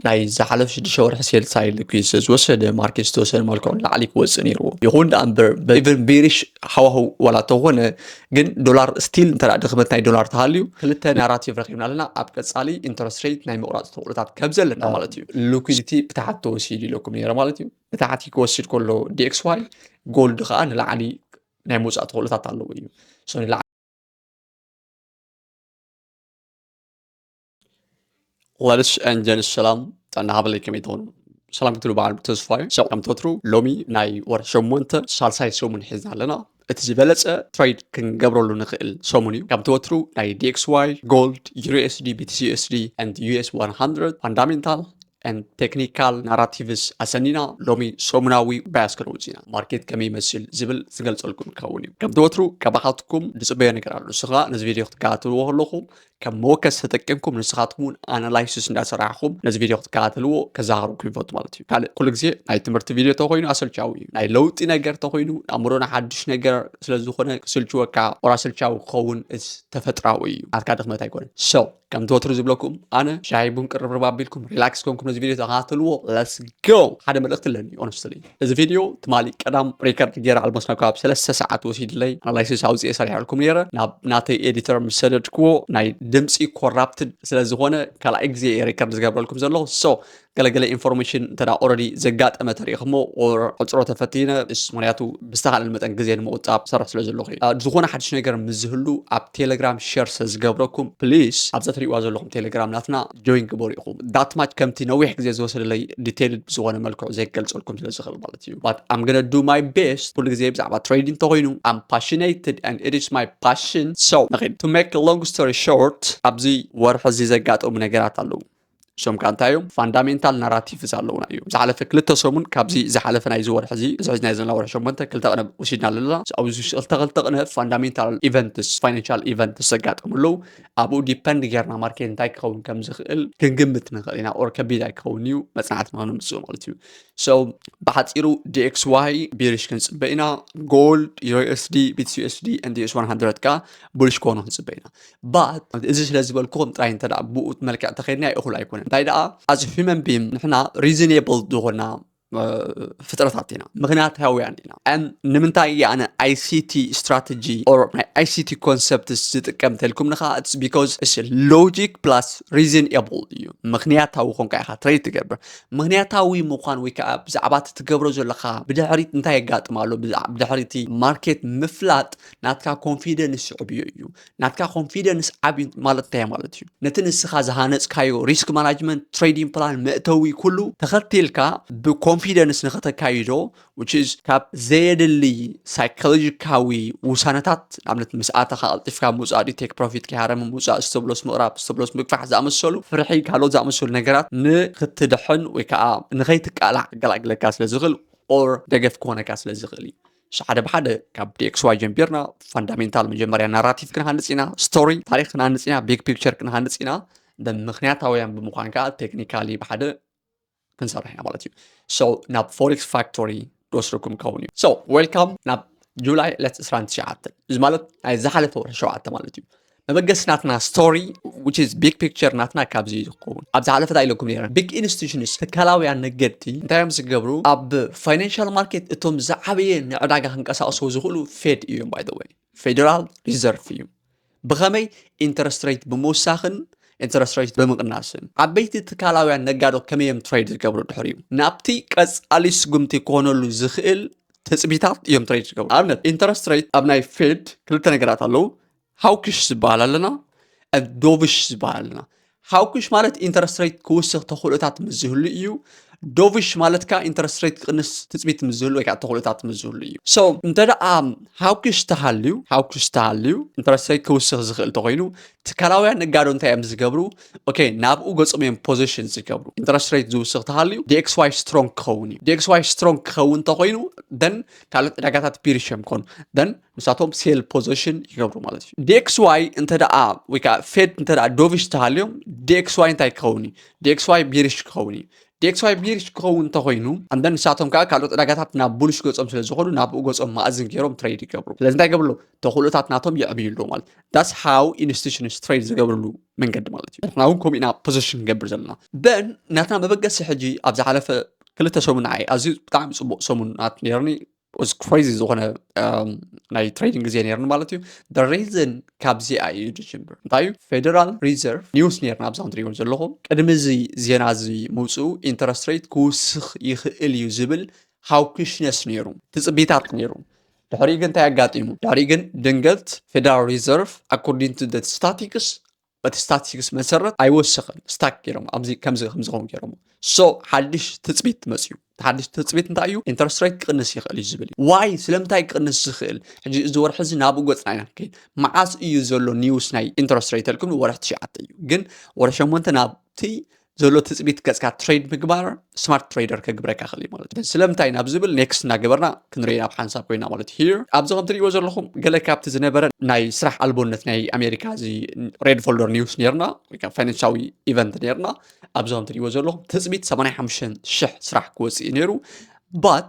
ናይ ዝሓለፍ ሽዱሽተ ወርሒ ሴልሳይ ልክዩ ስለ ዝወሰደ ማርኬ ዝተወሰነ መልክዑ ንላዕሊ ክወፅእ ነይርዎ ይኹን ደኣ እምበር ኢቨን ቤሪሽ ሃዋህው ዋላ ተኾነ ግን ዶላር ስቲል እንተ ድኽመት ናይ ዶላር ተሃልዩ ክልተ ናራቲቭ ረኪብና ኣለና ኣብ ቀፃሊ ኢንተረስት ሬት ናይ ምቁራፅ ተኽእሎታት ከም ዘለና ማለት እዩ ሊኩዲቲ ብታሕቲ ተወሲዱ ኢለኩም ነይረ ማለት እዩ ብታሕቲ ክወስድ ከሎ ዲኤክስ ዋይ ጎልድ ከዓ ንላዕሊ ናይ ምውፃእ ተኽእሎታት ኣለዎ እዩ ላልሽ እንጀን ሰላም ጥዕና ሃበለይ ከመይ ትኾኑ ሰላም ክትብሉ በዓል ተስፋዩ ሰብ ከም ተትሩ ሎሚ ናይ ወር ሸሞንተ ሳልሳይ ሰሙን ሒዝና ኣለና እቲ ዝበለፀ ትሬድ ክንገብረሉ ንኽእል ሰሙን እዩ ከምቲ ወትሩ ናይ ዲኤክስዋይ ጎልድ ዩኤስዲ ቢቲሲኤስዲ ንድ ዩኤስ 100 ፋንዳሜንታል ቴክኒካል ናራቲቭስ ኣሰኒና ሎሚ ሰሙናዊ ባያስ ክንወፅ ኢና ማርኬት ከመይ ይመስል ዝብል ዝገልፀልኩም ክኸውን እዩ ከምቲ ወትሩ ካባኻትኩም ዝፅበዮ ነገር ኣሎ ንሱ ከዓ ነዚ ቪድዮ ክትከታተልዎ ከለኹም ከም መወከሲ ተጠቂምኩም ንስኻትኩም እውን ኣናላይሲስ እንዳሰራሕኹም ነዚ ቪድዮ ክትከታተልዎ ከዘኻኽረኩም ይፈቱ ማለት እዩ ካልእ ኩሉ ግዜ ናይ ትምህርቲ ቪድዮ ተኮይኑ ኣሰልቻዊ እዩ ናይ ለውጢ ነገር ተኮይኑ ኣእምሮና ሓድሽ ነገር ስለዝኾነ ክስልችወካ ወራ ኣሰልቻዊ ክኸውን እዚ ተፈጥራዊ እዩ ናትካ ድኽመት ኣይኮነን ሰው ከምቲ ወትሩ ዝብለኩም ኣነ ሻሂ ቡን ቅርብርብ ኣቢልኩም ሪላክስ ኮንኩም ነዚ ቪድዮ ተኸታተልዎ ለስ ጎ ሓደ መልእኽቲ ኣለኒ ኦነስትሊ እዚ ቪድዮ ትማሊ ቀዳም ሪከርድ ገይረ ኣልሞስ ናብ ከባቢ ሰለስተ ሰዓት ወሲድለይ ኣናላይሲስ ኣውፅኤ ሰሪሐልኩም ነይረ ናብ ናተይ ኤዲተር ምስ ሰደድክዎ ናይ ድምፂ ኮራፕትድ ስለዝኾነ ካልኣይ ግዜ እየ ሪከርድ ዝገብረልኩም ዘሎ ሶ ገለገለ ኢንፎርሜሽን እንተ ኦረዲ ዘጋጠመ ተሪኢኹሞ ዕፅሮ ተፈቲነ ምስ ምክንያቱ ብዝተኻእለ መጠን ግዜ ንምቁፃብ ሰርሕ ስለ ዘለኹ እዩ ዝኾነ ሓድሽ ነገር ምስ ዝህሉ ኣብ ቴለግራም ሸር ስለ ዝገብረኩም ፕሊስ ኣብዛ ትሪእዋ ዘለኹም ቴለግራም ናትና ጆይን ግበሩ ኢኹም ዳት ማች ከምቲ ነዊሕ ግዜ ዝወሰደለይ ዲቴይልድ ብዝኾነ መልክዑ ዘይገልጸልኩም ስለ ዝኽእል ማለት እዩ ባት ኣም ገነ ዱ ማይ ቤስት ኩሉ ግዜ ብዛዕባ ትሬዲንግ እንተኾይኑ ኣም ፓሽነይትድ ኣንድ ኢት ኢዝ ማይ ፓሽን ሶ ንኺድ ቱ ሜክ ሎንግ ስቶሪ ሾርት ኣብዚ ወርሒ እዚ ዘጋጠሙ ነገራት ኣለዉ እሶም ከ እንታይ እዮም ፋንዳሜንታል ናራቲቭስ ኣለዉና እዩ ዝሓለፈ ክልተ ሰሙን ካብዚ ዝሓለፈ ናይዚ ወርሒ እዚ እዚ ሕዚ ናይ ዘለና ወርሒ ሸሞንተ ክልተ ቅነ ወሲድና ኣለና ኣብዚ ክልተ ክልተ ቅነ ፋንዳሜንታል ኢቨንትስ ፋይናንሻል ኢቨንትስ ዘጋጠሙ ኣለዉ ኣብኡ ዲፐንድ ጌርና ማርኬት እንታይ ክኸውን ከም ዝኽእል ክንግምት ንኽእል ኢና ኦር ከቢድ ኣይክኸውን እዩ መፅናዕትና ንምፅኡ ማለት እዩ ሶ ብሓፂሩ ዲኤክስ ዋይ ቢሪሽ ክንፅበ ኢና ጎልድ ዩኤስዲ ቢትስ ዩኤስዲ ኤንዲኤስ 100 ከዓ ቡሊሽ ክኾኑ ክንፅበ ኢና But እዚ ስለ ዝበልኩኹም ጥራይ እንተ ደኣ ብኡ መልክዕ ተኸይድና እኹል ኣይኮነን እንታይ ደኣ as human being ንሕና reasonable ዝኾና ፍጥረታት ኢና ምክንያታውያን ኢና ን ንምንታይ እየ ኣነ ኣይሲቲ ስትራተጂ ኦር ናይ ኣይሲቲ ኮንሰፕትስ ዝጥቀም እንተልኩም ንኻ ስ ቢካዝ እስ ሎጂክ ፕላስ ሪዝን ኤብል እዩ ምክንያታዊ ኮንካ ኢኻ ትረይ ትገብር ምክንያታዊ ምዃን ወይ ከዓ ብዛዕባ እቲ ትገብሮ ዘለካ ብድሕሪት እንታይ የጋጥም ኣሎ ብድሕሪቲ ማርኬት ምፍላጥ ናትካ ኮንፊደንስ ይዕብዮ እዩ ናትካ ኮንፊደንስ ዓብዩ ማለት እንታይ ማለት እዩ ነቲ ንስኻ ዝሃነፅካዮ ሪስክ ማናጅመንት ትሬዲንግ ፕላን መእተዊ ኩሉ ተኸቲልካ ብኮንፊደንስ ንኸተካይዶ ካብ ዘየድሊ ሳይኮሎጂካዊ ውሳነታት ንኣብነት ምስ ኣተኻ ቀልጢፍካ ምውፃእ ድዩ ቴክ ፕሮፊት ከይሃረም ምውፃእ ስተብሎስ ምቕራብ ስተብሎስ ምግፋሕ ዝኣመሰሉ ፍርሒ ካልኦት ዝኣመሰሉ ነገራት ንክትድሕን ወይ ከዓ ንኸይትቃላዕ ገላግለካ ስለ ዝኽእል ኦር ደገፍ ክኾነካ ስለ ዝኽእል እዩ ሓደ ብሓደ ካብ ዲኤክስዋይ ጀምቢርና ፋንዳሜንታል መጀመርያ ናራቲቭ ክንሃንፅ ኢና ስቶሪ ታሪክ ክንሃንፅ ኢና ቢግ ፒክቸር ክንሃንፅ ኢና ብምክንያታውያን ብምኳን ከዓ ቴክኒካሊ ብሓደ ክንሰርሕ ኢና ማለት እዩ ሶ ናብ ፎሬክስ ፋክቶሪ ክወስደኩም ክኸውን እዩ ሶ ዌልካም ናብ ጁላይ ዕለት 29 እዚ ማለት ናይ ዝሓለፈ ወርሒ ሸውዓተ ማለት እዩ መበገሲ ናትና ስቶሪ which is big picture ናትና ካብዚ እዩ ዝኸውን ኣብ ዝሓለፈ እንታይ ኢለኩም ነረ ቢግ ኢንስቲቱሽንስ ትካላውያን ነገድቲ እንታይ እዮም ዝገብሩ ኣብ ፋይናንሻል ማርኬት እቶም ዝዓበየ ንዕዳጋ ክንቀሳቀስዎ ዝኽእሉ ፌድ እዮም ባይ ወይ ፌደራል ሪዘርቭ እዩ ብኸመይ ኢንተረስት ሬት ብምውሳኽን ኢንተረስት ሬት ብምቕናስን ዓበይቲ ትካላውያን ነጋዶ ከመይ እዮም ትሬድ ዝገብሩ ድሕር እዩ ናብቲ ቀፃሊ ስጉምቲ ክኾነሉ ዝኽእል ትፅቢታት እዮም ትሬድ ዝገብሩ ኣብነት ኢንተረስት ሬት ኣብ ናይ ፌድ ክልተ ነገራት ኣለዉ ሃውክሽ ዝበሃል ኣለና ዶቭሽ ዝበሃል ኣለና ሃውክሽ ማለት ኢንተረስት ሬት ክውስኽ ተኽእሎታት ምስ ዝህሉ እዩ ዶቭሽ ማለት ከዓ ኢንተረስት ሬት ክቕንስ ትፅቢት ምስ ዝህሉ ወይ ከዓ ተኽእሎታት ምስ ዝህሉ እዩ ሶ እንተ ደኣ ሃውክሽ ተሃልዩ ሃውክሽ ተሃልዩ ኢንተረስት ሬት ክውስኽ ዝኽእል ተኮይኑ ትካላውያን ነጋዶ እንታይ እዮም ዝገብሩ ኦኬ ናብኡ ገፆም እዮም ፖዚሽን ዝገብሩ ኢንተረስት ሬት ዝውስኽ ተሃልዩ ዲኤክስዋይ ስትሮንግ ክኸውን እዩ ዲኤክስዋይ ስትሮንግ ክኸውን እንተኮይኑ ደን ካልኦት ዕዳጋታት ፒሪሽ እዮም ክኾኑ ደን ንሳቶም ሴል ፖዘሽን ይገብሩ ማለት እዩ ዲኤክስዋይ እንተ ወይ ከዓ ፌድ እንተ ዶቪሽ ተሃልዮም ዲኤክስዋይ እንታይ ክኸውን እዩ ዲኤክስዋይ ቢሪሽ ክኸውን እዩ ዲኤክስዋይ ቢሪሽ ክኸውን እንተኮይኑ ኣንደን ንሳቶም ከዓ ካልኦት ዕዳጋታት ናብ ቡልሽ ገፆም ስለ ዝኾኑ ናብኡ ገፆም ማእዝን ገይሮም ትሬድ ይገብሩ ስለዚ እንታይ ገብርሉ ተኽእሎታት ናቶም የዕብይሉ ማለት ዳስ ሃው ኢንስቲቱሽንስ ትሬድ ዝገብርሉ መንገዲ ማለት እዩ ንሕና እውን ከምኡ ኢና ፖዘሽን ንገብር ዘለና በን ናትና መበገሲ ሕጂ ኣብ ዝሓለፈ ክልተ ሰሙን ዓይ ኣዝዩ ብጣዕሚ ፅቡቅ ሰሙናት ነይርኒ was crazy ዝኾነ ናይ ትሬዲንግ ግዜ ነርኒ ማለት እዩ ሪዝን ካብዚኣ እዩ ዝጅምር እንታይ እዩ ፌደራል ሪዘርቭ ኒውስ ነርና ኣብዛ ንሪኦ ዘለኹም ቅድሚ እዚ ዜና እዚ ምውፅኡ ኢንተረስት ሬት ክውስኽ ይኽእል እዩ ዝብል ሃውክሽነስ ነይሩ ትፅቢታት ነይሩ ድሕሪኡ ግን እንታይ ኣጋጢሙ ድሕሪኡ ግን ድንገት ፌደራል ሪዘርቭ ኣኮርዲንግ ቱ ስታቲክስ በቲ ስታቲስቲክስ መሰረት ኣይወሰኸን ስታክ ገይሮም ኣብዚ ከምዚ ከም ዝኸውን ገይሮም ሶ ሓድሽ ትፅቢት መፅዩ ሓድሽ ትፅቢት እንታይ እዩ ኢንተረስት ሬት ክቕንስ ይኽእል እዩ ዝብል ዋይ ስለምንታይ ክቕንስ ዝኽእል ሕጂ እዚ ወርሒ እዚ ናብኡ ገፅና ኢና ንከይድ መዓስ እዩ ዘሎ ኒውስ ናይ ኢንተረስት ሬት ተልኩም ወርሒ ትሽዓተ እዩ ግን ወርሒ ሸሞንተ ናብቲ ዘሎ ትፅቢት ገፅካ ትሬድ ምግባር ስማርት ትሬደር ከግብረካ ክእል እዩ ማለት እዩ ስለምንታይ ናብ ዝብል ኔክስት እናገበርና ክንሪኦ ናብ ሓንሳብ ኮይና ማለት እዩ ሂር ኣብዚ ከም ትሪእዎ ዘለኹም ገለ ካብቲ ዝነበረ ናይ ስራሕ ኣልቦነት ናይ ኣሜሪካ እዚ ሬድ ፎልደር ኒውስ ነርና ወይከዓ ፋይናንሻዊ ኢቨንት ነርና ኣብዚ ከም ትሪእዎ ዘለኹም ትፅቢት 85 ሽሕ ስራሕ ክወፅእ እዩ ነይሩ ባት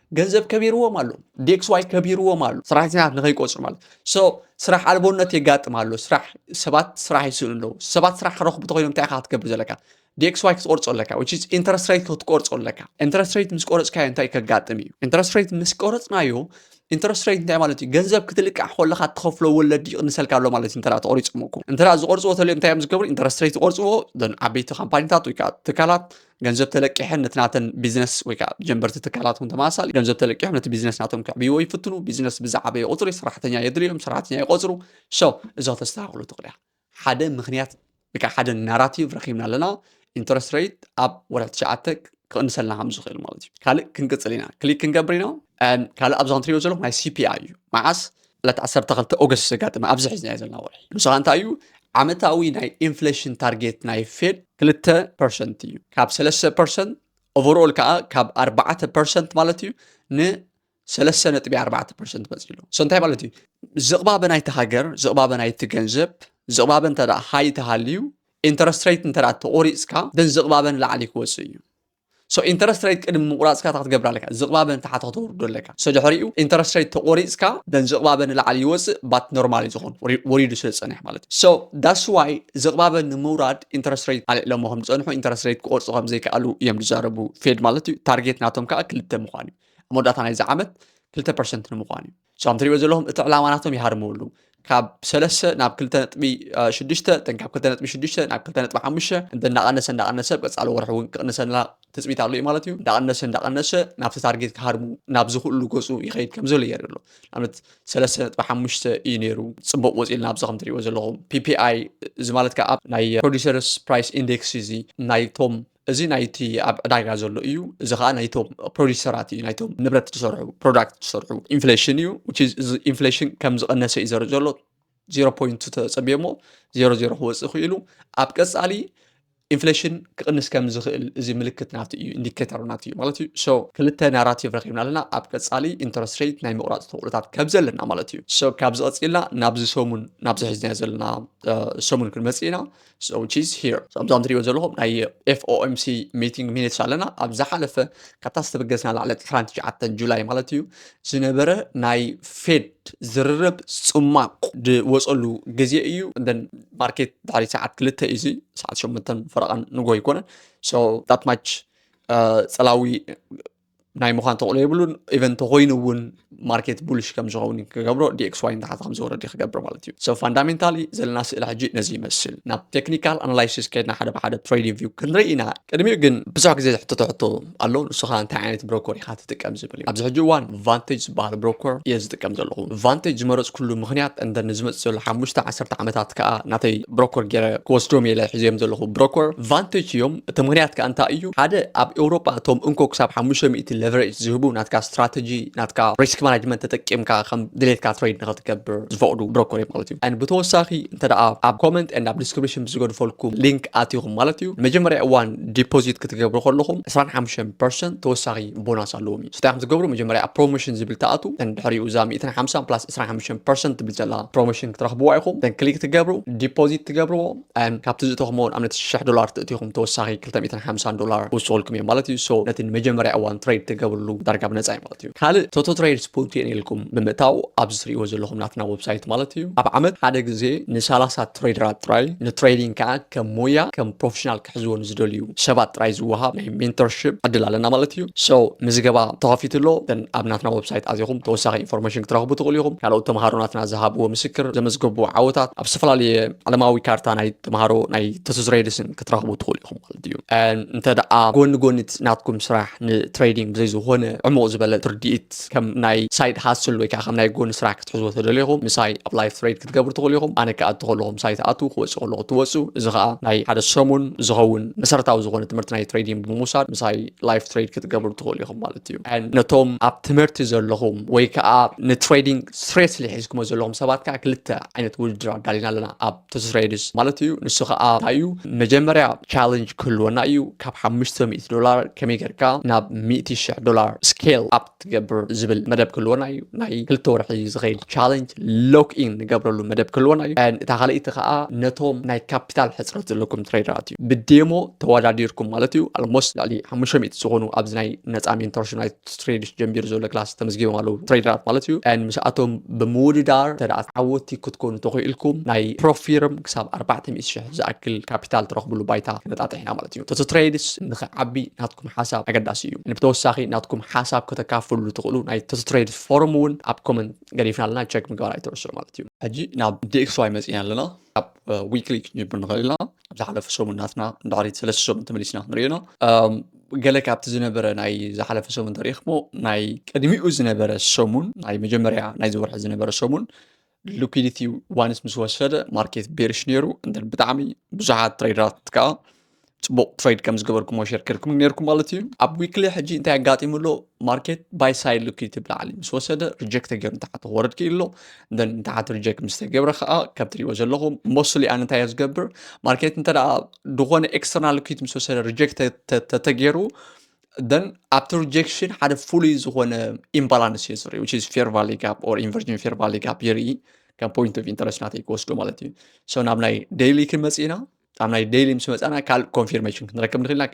ገንዘብ ከቢርዎም ኣሎ ዴክስዋይ ከቢርዎም ኣሎ ሰራሕተኛታት ንከይቆፅሩ ማለት ሶ ስራሕ ኣልቦነት የጋጥም ኣሎ ስራሕ ሰባት ስራሕ ይስእኑ ኣለዉ ሰባት ስራሕ ክረኽቡ ተኮይኖም እንታይ ኢካ ክትገብር ዘለካ ዴክስዋይ ክትቆርፆ ኣለካ ዊች ኢዝ ኢንተረስት ሬት ክትቆርፆ ኣለካ ኢንተረስት ሬት ምስ ቆረፅካዮ እንታይ ከጋጥም እዩ ኢንተረስት ሬት ምስ ቆረፅናዮ ኢንተረስት ሬት እንታይ ማለት እዩ ገንዘብ ክትልቃሕ ከለካ ትኸፍሎ ወለዲ ይቕንሰልካ ኣሎ ማለት እዩ እንተ ተቆሪፅሞኩም እንተ ዝቆርፅዎ ተልዮም እንታይ እዮም ዝገብሩ ኢንተረስት ሬት ይቆርፅዎ ዓበይቲ ካምፓኒታት ወይ ከዓ ትካላት ገንዘብ ተለቂሐን ነቲ ናተን ቢዝነስ ወይ ከዓ ጀንበርቲ ትካላት እውን ተመሳሳሊ ገንዘብ ተለቂሖም ነቲ ቢዝነስ ናቶም ከዕብይዎ ይፍትኑ ቢዝነስ ብዛዕበየ ቁፅሪ ሰራሕተኛ የድልዮም ሰራሕተኛ ይቆፅሩ ሶ እዞ ተስተካክሉ ትኽእሉ እያ ሓደ ምክንያት ወይ ከዓ ሓደ ናራቲቭ ረኪብና ኣለና ኢንተረስት ሬት ኣብ ወርሒ ትሽዓተ ክቕንሰልና ከም ዝኽእል ማለት እዩ ካልእ ክንቅፅል ኢና ክሊክ ክንገብር ኢና ካልእ ኣብዛ ንትሪኦ ዘለኹም ናይ ሲፒኣይ እዩ መዓስ ዕለት 12 ኦገስት ዘጋጥመ ኣብዚ ሒዝናዮ ዘለና ወርሒ ንሱ ከዓ እንታይ እዩ ዓመታዊ ናይ ኢንፍሌሽን ታርጌት ናይ ፌድ ክልተ ፐርሰንት እዩ ካብ ሰለስተ ፐርሰንት ኦቨርኦል ከዓ ካብ ኣርባዕተ ፐርሰንት ማለት እዩ ንሰለስተ ነጥቢ ኣርባዕተ ፐርሰንት መፅ ኣሎ እሶ እንታይ ማለት እዩ ዝቕባበ ናይቲ ሃገር ዝቕባበ ናይቲ ገንዘብ ዝቕባበ እንተ ሃይ ተሃልዩ ኢንተረስት ሬት እንተ ተቆሪፅካ ደን ዝቕባበን ላዕሊ ክወፅእ እዩ So interest rate ቅድሚ ምቁራጽካ እታ ክትገብር ኣለካ ዝቅባበ ንታሕቲ ከተውርዶ ኣለካ so ድሕሪኡ interest rate ተቆሪጽካ then ዝቅባበ ንላዕሊ ይወጽእ but normal እዩ ዝኮን ወሪዱ ስለ ዝጸንሕ ማለት እዩ so that's why ዝቅባበ ንምውራድ interest rate ኣልዕሎሞ ከም ዝጸንሑ interest rate ክቆርጹ ከም ዘይከኣሉ እዮም ዝዛረቡ ፌድ ማለት እዩ ታርጌት ናቶም ከኣ ክልተ ምኳን እዩ ኣብ መወዳእታ ናይዚ ዓመት ክልተ ፐርሰንት ንምኳን እዩ እዞም ትሪእዎ ዘለኹም እቲ ዕላማ ናቶም ይሃርምሉ ካብ ሰለስተ ናብ ክልተ ነጥቢ ሽዱሽተ እተን ካብ ክልተ ነጥቢ ሽዱሽተ ናብ ክልተ ነጥቢ ሓሙሽተ እንተ እንዳቐነሰ እንዳቐነሰ ኣብ ቀፃሊ ወርሒ እውን ክቕንሰልና ትፅቢት ኣሎ እዩ ማለት እዩ እንዳቐነሰ እንዳቐነሰ ናብቲ ታርጌት ክሃርሙ ናብ ዝኽእሉ ገፁ ይኸይድ ከም ዘሎ የርኢ ኣሎ ንኣብነት ሰለስተ ነጥቢ ሓሙሽተ እዩ ነይሩ ፅቡቕ ወፂልና ኣብዚ ከም ትሪእዎ ዘለኹም ፒፒኣይ እዚ ማለት ከዓ ናይ ፕሮዲሰርስ ፕራይስ ኢንዴክስ እዚ ናይቶም እዚ ናይቲ ኣብ ዕዳጋ ዘሎ እዩ እዚ ከዓ ናይቶም ፕሮዲሰራት እዩ ናይቶም ንብረት ዝሰርሑ ፕሮዳክት ዝሰርሑ ኢንፍሌሽን እዩ ኢንፍሌሽን ከም ዝቐነሰ እዩ ዘርኢ ዘሎ ዜሮ ፖይንት ተፀቢዮ እሞ ዜሮ ዜሮ ክወፅእ ክኢሉ ኣብ ቀፃሊ ኢንፍሌሽን ክቕንስ ከም ዝኽእል እዚ ምልክት ናቱ እዩ ኢንዲኬተር ናቱ እዩ ማለት እዩ ሶ ክልተ ናራቲቭ ረኪብና ኣለና ኣብ ቀፃሊ ኢንተረስት ሬት ናይ ምቑራፅ ተኽእሎታት ከብ ዘለና ማለት እዩ ሶ ካብዚ ቀፂልና ናብዚ ሰሙን ናብዚ ሒዝናዮ ዘለና ሰሙን ክንመፅእ ኢና So she's here. ኣብዛ ትሪኦ ዘለኹም ናይ FOMC ሚቲንግ ሚኒትስ ኣለና ኣብ ዝሓለፈ ካብታ ዝተበገስና ላዕለ ዕስራን ትሽዓተን ጁላይ ማለት እዩ ዝነበረ ናይ ፌድ ዝርርብ ጽማቕ ዝወፀሉ ግዜ እዩ እንደን ማርኬት ድሕሪ ሰዓት ክልተ እዩ እዚ ሰዓት ሸመንተን ፈረቓን ንጎ ኣይኮነን ሶ ዳት ማች ፀላዊ ናይ ምዃን ተቕሎ የብሉን ኢቨን እንተኮይኑ እውን ማርኬት ቡልሽ ከም ዝኸውን ክገብሮ ዲኤክስ ዋይ ንታሕቲ ከም ዝወረድ ክገብር ማለት እዩ ሶ ፋንዳሜንታሊ ዘለና ስእሊ ሕጂ ነዚ ይመስል ናብ ቴክኒካል ኣናላይሲስ ከድና ሓደ ብሓደ ትሬድ ቪው ክንርኢ ኢና ቅድሚኡ ግን ብዙሕ ግዜ ዝሕተቶ ሕቶ ኣሎ ንስኻ እንታይ ዓይነት ብሮኮር ኢኻ ትጥቀም ዝብል እዩ ኣብዚ ሕጂ እዋን ቫንቴጅ ዝበሃል ብሮኮር እየ ዝጥቀም ዘለኹ ቫንቴጅ ዝመረፅኩሉ ምክንያት እንተ ንዝመፅእ ዘሎ ሓሙሽተ ዓሰርተ ዓመታት ከዓ ናተይ ብሮኮር ገይረ ክወስዶም እየ ኢለ ሒዘዮም ዘለኹ ብሮኮር ቫንቴጅ እዮም እቲ ምክንያት ከዓ እንታይ እዩ ሓደ ኣብ ኤውሮጳ እቶም እንኮ ክሳብ ሓሙሽተ ሚእቲ ሌቨሬጅ ዝህቡ ናትካ ስትራተጂ ናትካ ሪስክ ማናጅመንት ተጠቂምካ ከም ድሌትካ ትሬድ ንኸትገብር ዝፈቕዱ ብሮኮር እዮም ማለት እዩ ን ብተወሳኺ እንተ ኣብ ኮመንት ን ኣብ ዲስክሪፕሽን ብዝገድፈልኩም ሊንክ ኣትኹም ማለት እዩ ንመጀመርያ እዋን ዲፖዚት ክትገብሩ ከለኹም 25 ፐርሰንት ተወሳኺ ቦናስ ኣለዎም እዩ ስታይ ከም ዝገብሩ መጀመርያ ኣብ ፕሮሞሽን ዝብል ትኣቱ እተን ድሕሪኡ እዛ ሚእትን ሓምሳን ፕላስ ዕስራን ሓሙሽተን ፐርሰንት ትብል ዘላ ፕሮሞሽን ክትረኽብዋ ኢኹም እተን ክሊክ ትገብሩ ዲፖዚት ትገብርዎ እም፣ ካብቲ ዝእተኹምዎ ንኣብነት ሽሕ ዶላር ትእቲኹም ተወሳኺ ክልተ ሚእትን ሓምሳን ዶላር ክውስኹልኩም እዮም ማለት እዩ ሶ ነቲ ንመጀመርያ እዋን ትሬድ ትገብርሉ ዳርጋ ብነፃ እዩ ማለት እዩ ካልእ ቶቶ ትሬድ ስፖት የን ኢልኩም ብምእታው ኣብዚ ትሪእዎ ዘለኹም ናትና ወብሳይት ማለት እዩ ኣብ ዓመት ሓደ ግዜ ንሳላሳ ትሬደራት ጥራይ ንትሬዲንግ ከዓ ከም ሞያ ከም ፕሮፌሽናል ክሕዝዎ ንዝደልዩ ሰባት ጥራይ ዝወሃብ ናይ ሜንተርሺፕ ዕድል ኣለና ማለት እዩ ሶ ምዝገባ ተኸፊቱ ኣሎ እተን ኣብ ናትና ወብሳይት ኣዚኹም ተወሳኺ ኢንፎርሜሽን ክትረኽቡ ትኽእሉ ኢኹም ካልኦት ተምሃሮ ናትና ዝሃብዎ ምስክር ዘመዝገቡ ዓወታት ኣብ ዝተፈላለየ ዓለማዊ ካርታ ናይ ተምሃሮ ናይ ተትዝሬድስን ክትረኽቡ ትኽእሉ ኢኹም ማለት እዩ እንተ ደኣ ጎኒ ጎኒት ናትኩም ስራሕ ንትሬዲንግ ብዘይ ዝኾነ ዕሙቕ ዝበለ ትርድኢት ከም ናይ ሳይድ ሃስል ወይ ከዓ ከም ናይ ጎኒ ስራሕ ክትሕዝዎ ተደሊኹም ምሳይ ኣብ ላይፍ ትሬድ ክትገብሩ ትኽእሉ ኢኹም። ኣነ ክኣቱ ከለኹ ምሳይ ትኣትዉ፣ ክወጽእ ከለኹ ትወጹ። እዚ ከኣ ናይ ሓደ ሰሙን ዝኸውን መሰረታዊ ዝኾነ ትምህርቲ ናይ ትሬዲንግ ብምውሳድ ምሳይ ላይፍ ትሬድ ክትገብሩ ትኽእሉ ኢኹም ማለት እዩ። ነቶም ኣብ ትምህርቲ ዘለኹም ወይ ከዓ ንትሬዲንግ ስሬስሊ ሒዝኩሞ ዘለኹም ሰባት ከዓ ክልተ ዓይነት ውድድር ኣዳሊና ኣለና ኣብ ትስሬድስ ማለት እዩ። ንሱ ከዓ እንታይ እዩ መጀመርያ ቻለንጅ ክህልወና እዩ ካብ ሓሙሽተ ሚእቲ ዶላር ከመይ ጌርካ ናብ ሚእቲ ሽሕ ዶላር ስኬል ኣፕ ትገብር ዝብል መደብ ክህልወና እዩ ናይ ክልተ ወርሒ ዝኸይድ ቻለንጅ ሎክ ኢን ንገብረሉ መደብ ክህልወና እዩ እታ ካልኣይቲ ከዓ ነቶም ናይ ካፒታል ሕፅረት ዘለኩም ትሬደራት እዩ ብዴሞ ተወዳዲርኩም ማለት እዩ ኣልሞስት ልዕሊ ሓሙሽተ ሚእቲ ዝኾኑ ኣብዚ ናይ ነፃ ሜንቶርሽፕ ናይ ትሬድስ ጀንቢሩ ዘሎ ክላስ ተመዝጊቦም ኣለዉ ትሬደራት ማለት እዩ ን ምስኣቶም ብምውድዳር ተደኣ ዓወቲ ክትኮኑ ተኽኢልኩም ናይ ፕሮፊርም ክሳብ ኣርባዕተ ሚእቲ ሽሕ ዝኣክል ካፒታል ትረኽብሉ ባይታ ክነጣጥሕ ኢና ማለት እዩ ተቶ ትሬድስ ንኽዓቢ ናትኩም ሓሳብ ኣገዳሲ እዩ ንብተወሳኺ ናትኩም ሓሳብ ከተካፍሉሉ ትኽእሉ ናይ ተስትሬድ ፎርም እውን ኣብ ኮመንት ገዲፍና ኣለና ቸክ ምግባር ኣይትረስዑ ማለት እዩ ሕጂ ናብ ዲኤክስዋይ መፂና ኣለና ኣብ ዊክሊ ክንጅብር ንኽእል ኢና ኣብ ዝሓለፈ ሰሙን ናትና ድሕሪት ሰለስተ ሰሙን ተመሊስና ክንሪኦና ገለ ካብቲ ዝነበረ ናይ ዝሓለፈ ሰሙን ተሪእክሞ ናይ ቅድሚኡ ዝነበረ ሰሙን ናይ መጀመርያ ናይ ዝወርሒ ዝነበረ ሰሙን ሉኪዲቲ ዋንስ ምስ ወሰደ ማርኬት ቤርሽ ነይሩ እንደን ብጣዕሚ ብዙሓት ትሬደራት ከዓ ፅቡቅ ትሬድ ከም ዝገበርኩሞ ሸር ጌርኩም ነይርኩም ማለት እዩ ኣብ ዊክሊ ሕጂ እንታይ ኣጋጢሙ ኣሎ ማርኬት ባይ ሳይድ ሉኪዲቲ ብላዕሊ ምስ ወሰደ ሪጀክት ተገይሩ ንታሓት ክወረድ ክኢሉ ኣሎ እንደን ንታሓት ሪጀክት ምስ ተገብረ ከዓ ከም ትሪእዎ ዘለኹም ሞስሊ ኣነ እንታይ እየ ዝገብር ማርኬት እንተ ዝኾነ ኤክስተርናል ሉኪዲቲ ምስ ወሰደ ሪጀክት ተተገይሩ ደን ኣብቲ ሪጀክሽን ሓደ ፍሉይ ዝኾነ ኢምባላንስ እዩ ዝርኢ ዊች ኢዝ ፌር ቫሊ ጋፕ ኦር ኢንቨርጅን ፌር ቫሊ ጋፕ የርኢ ከም ፖይንት ኦፍ ኢንተረስት ናተይ ክወስዶ ማለት እዩ ሶ ናብ ናይ ደይሊ ክንመፅእ ኢና ኣብ ናይ ደይሊ ምስ መፃና ካልእ ኮንፊርሜሽን ክንረከብ ንኽእል ኢና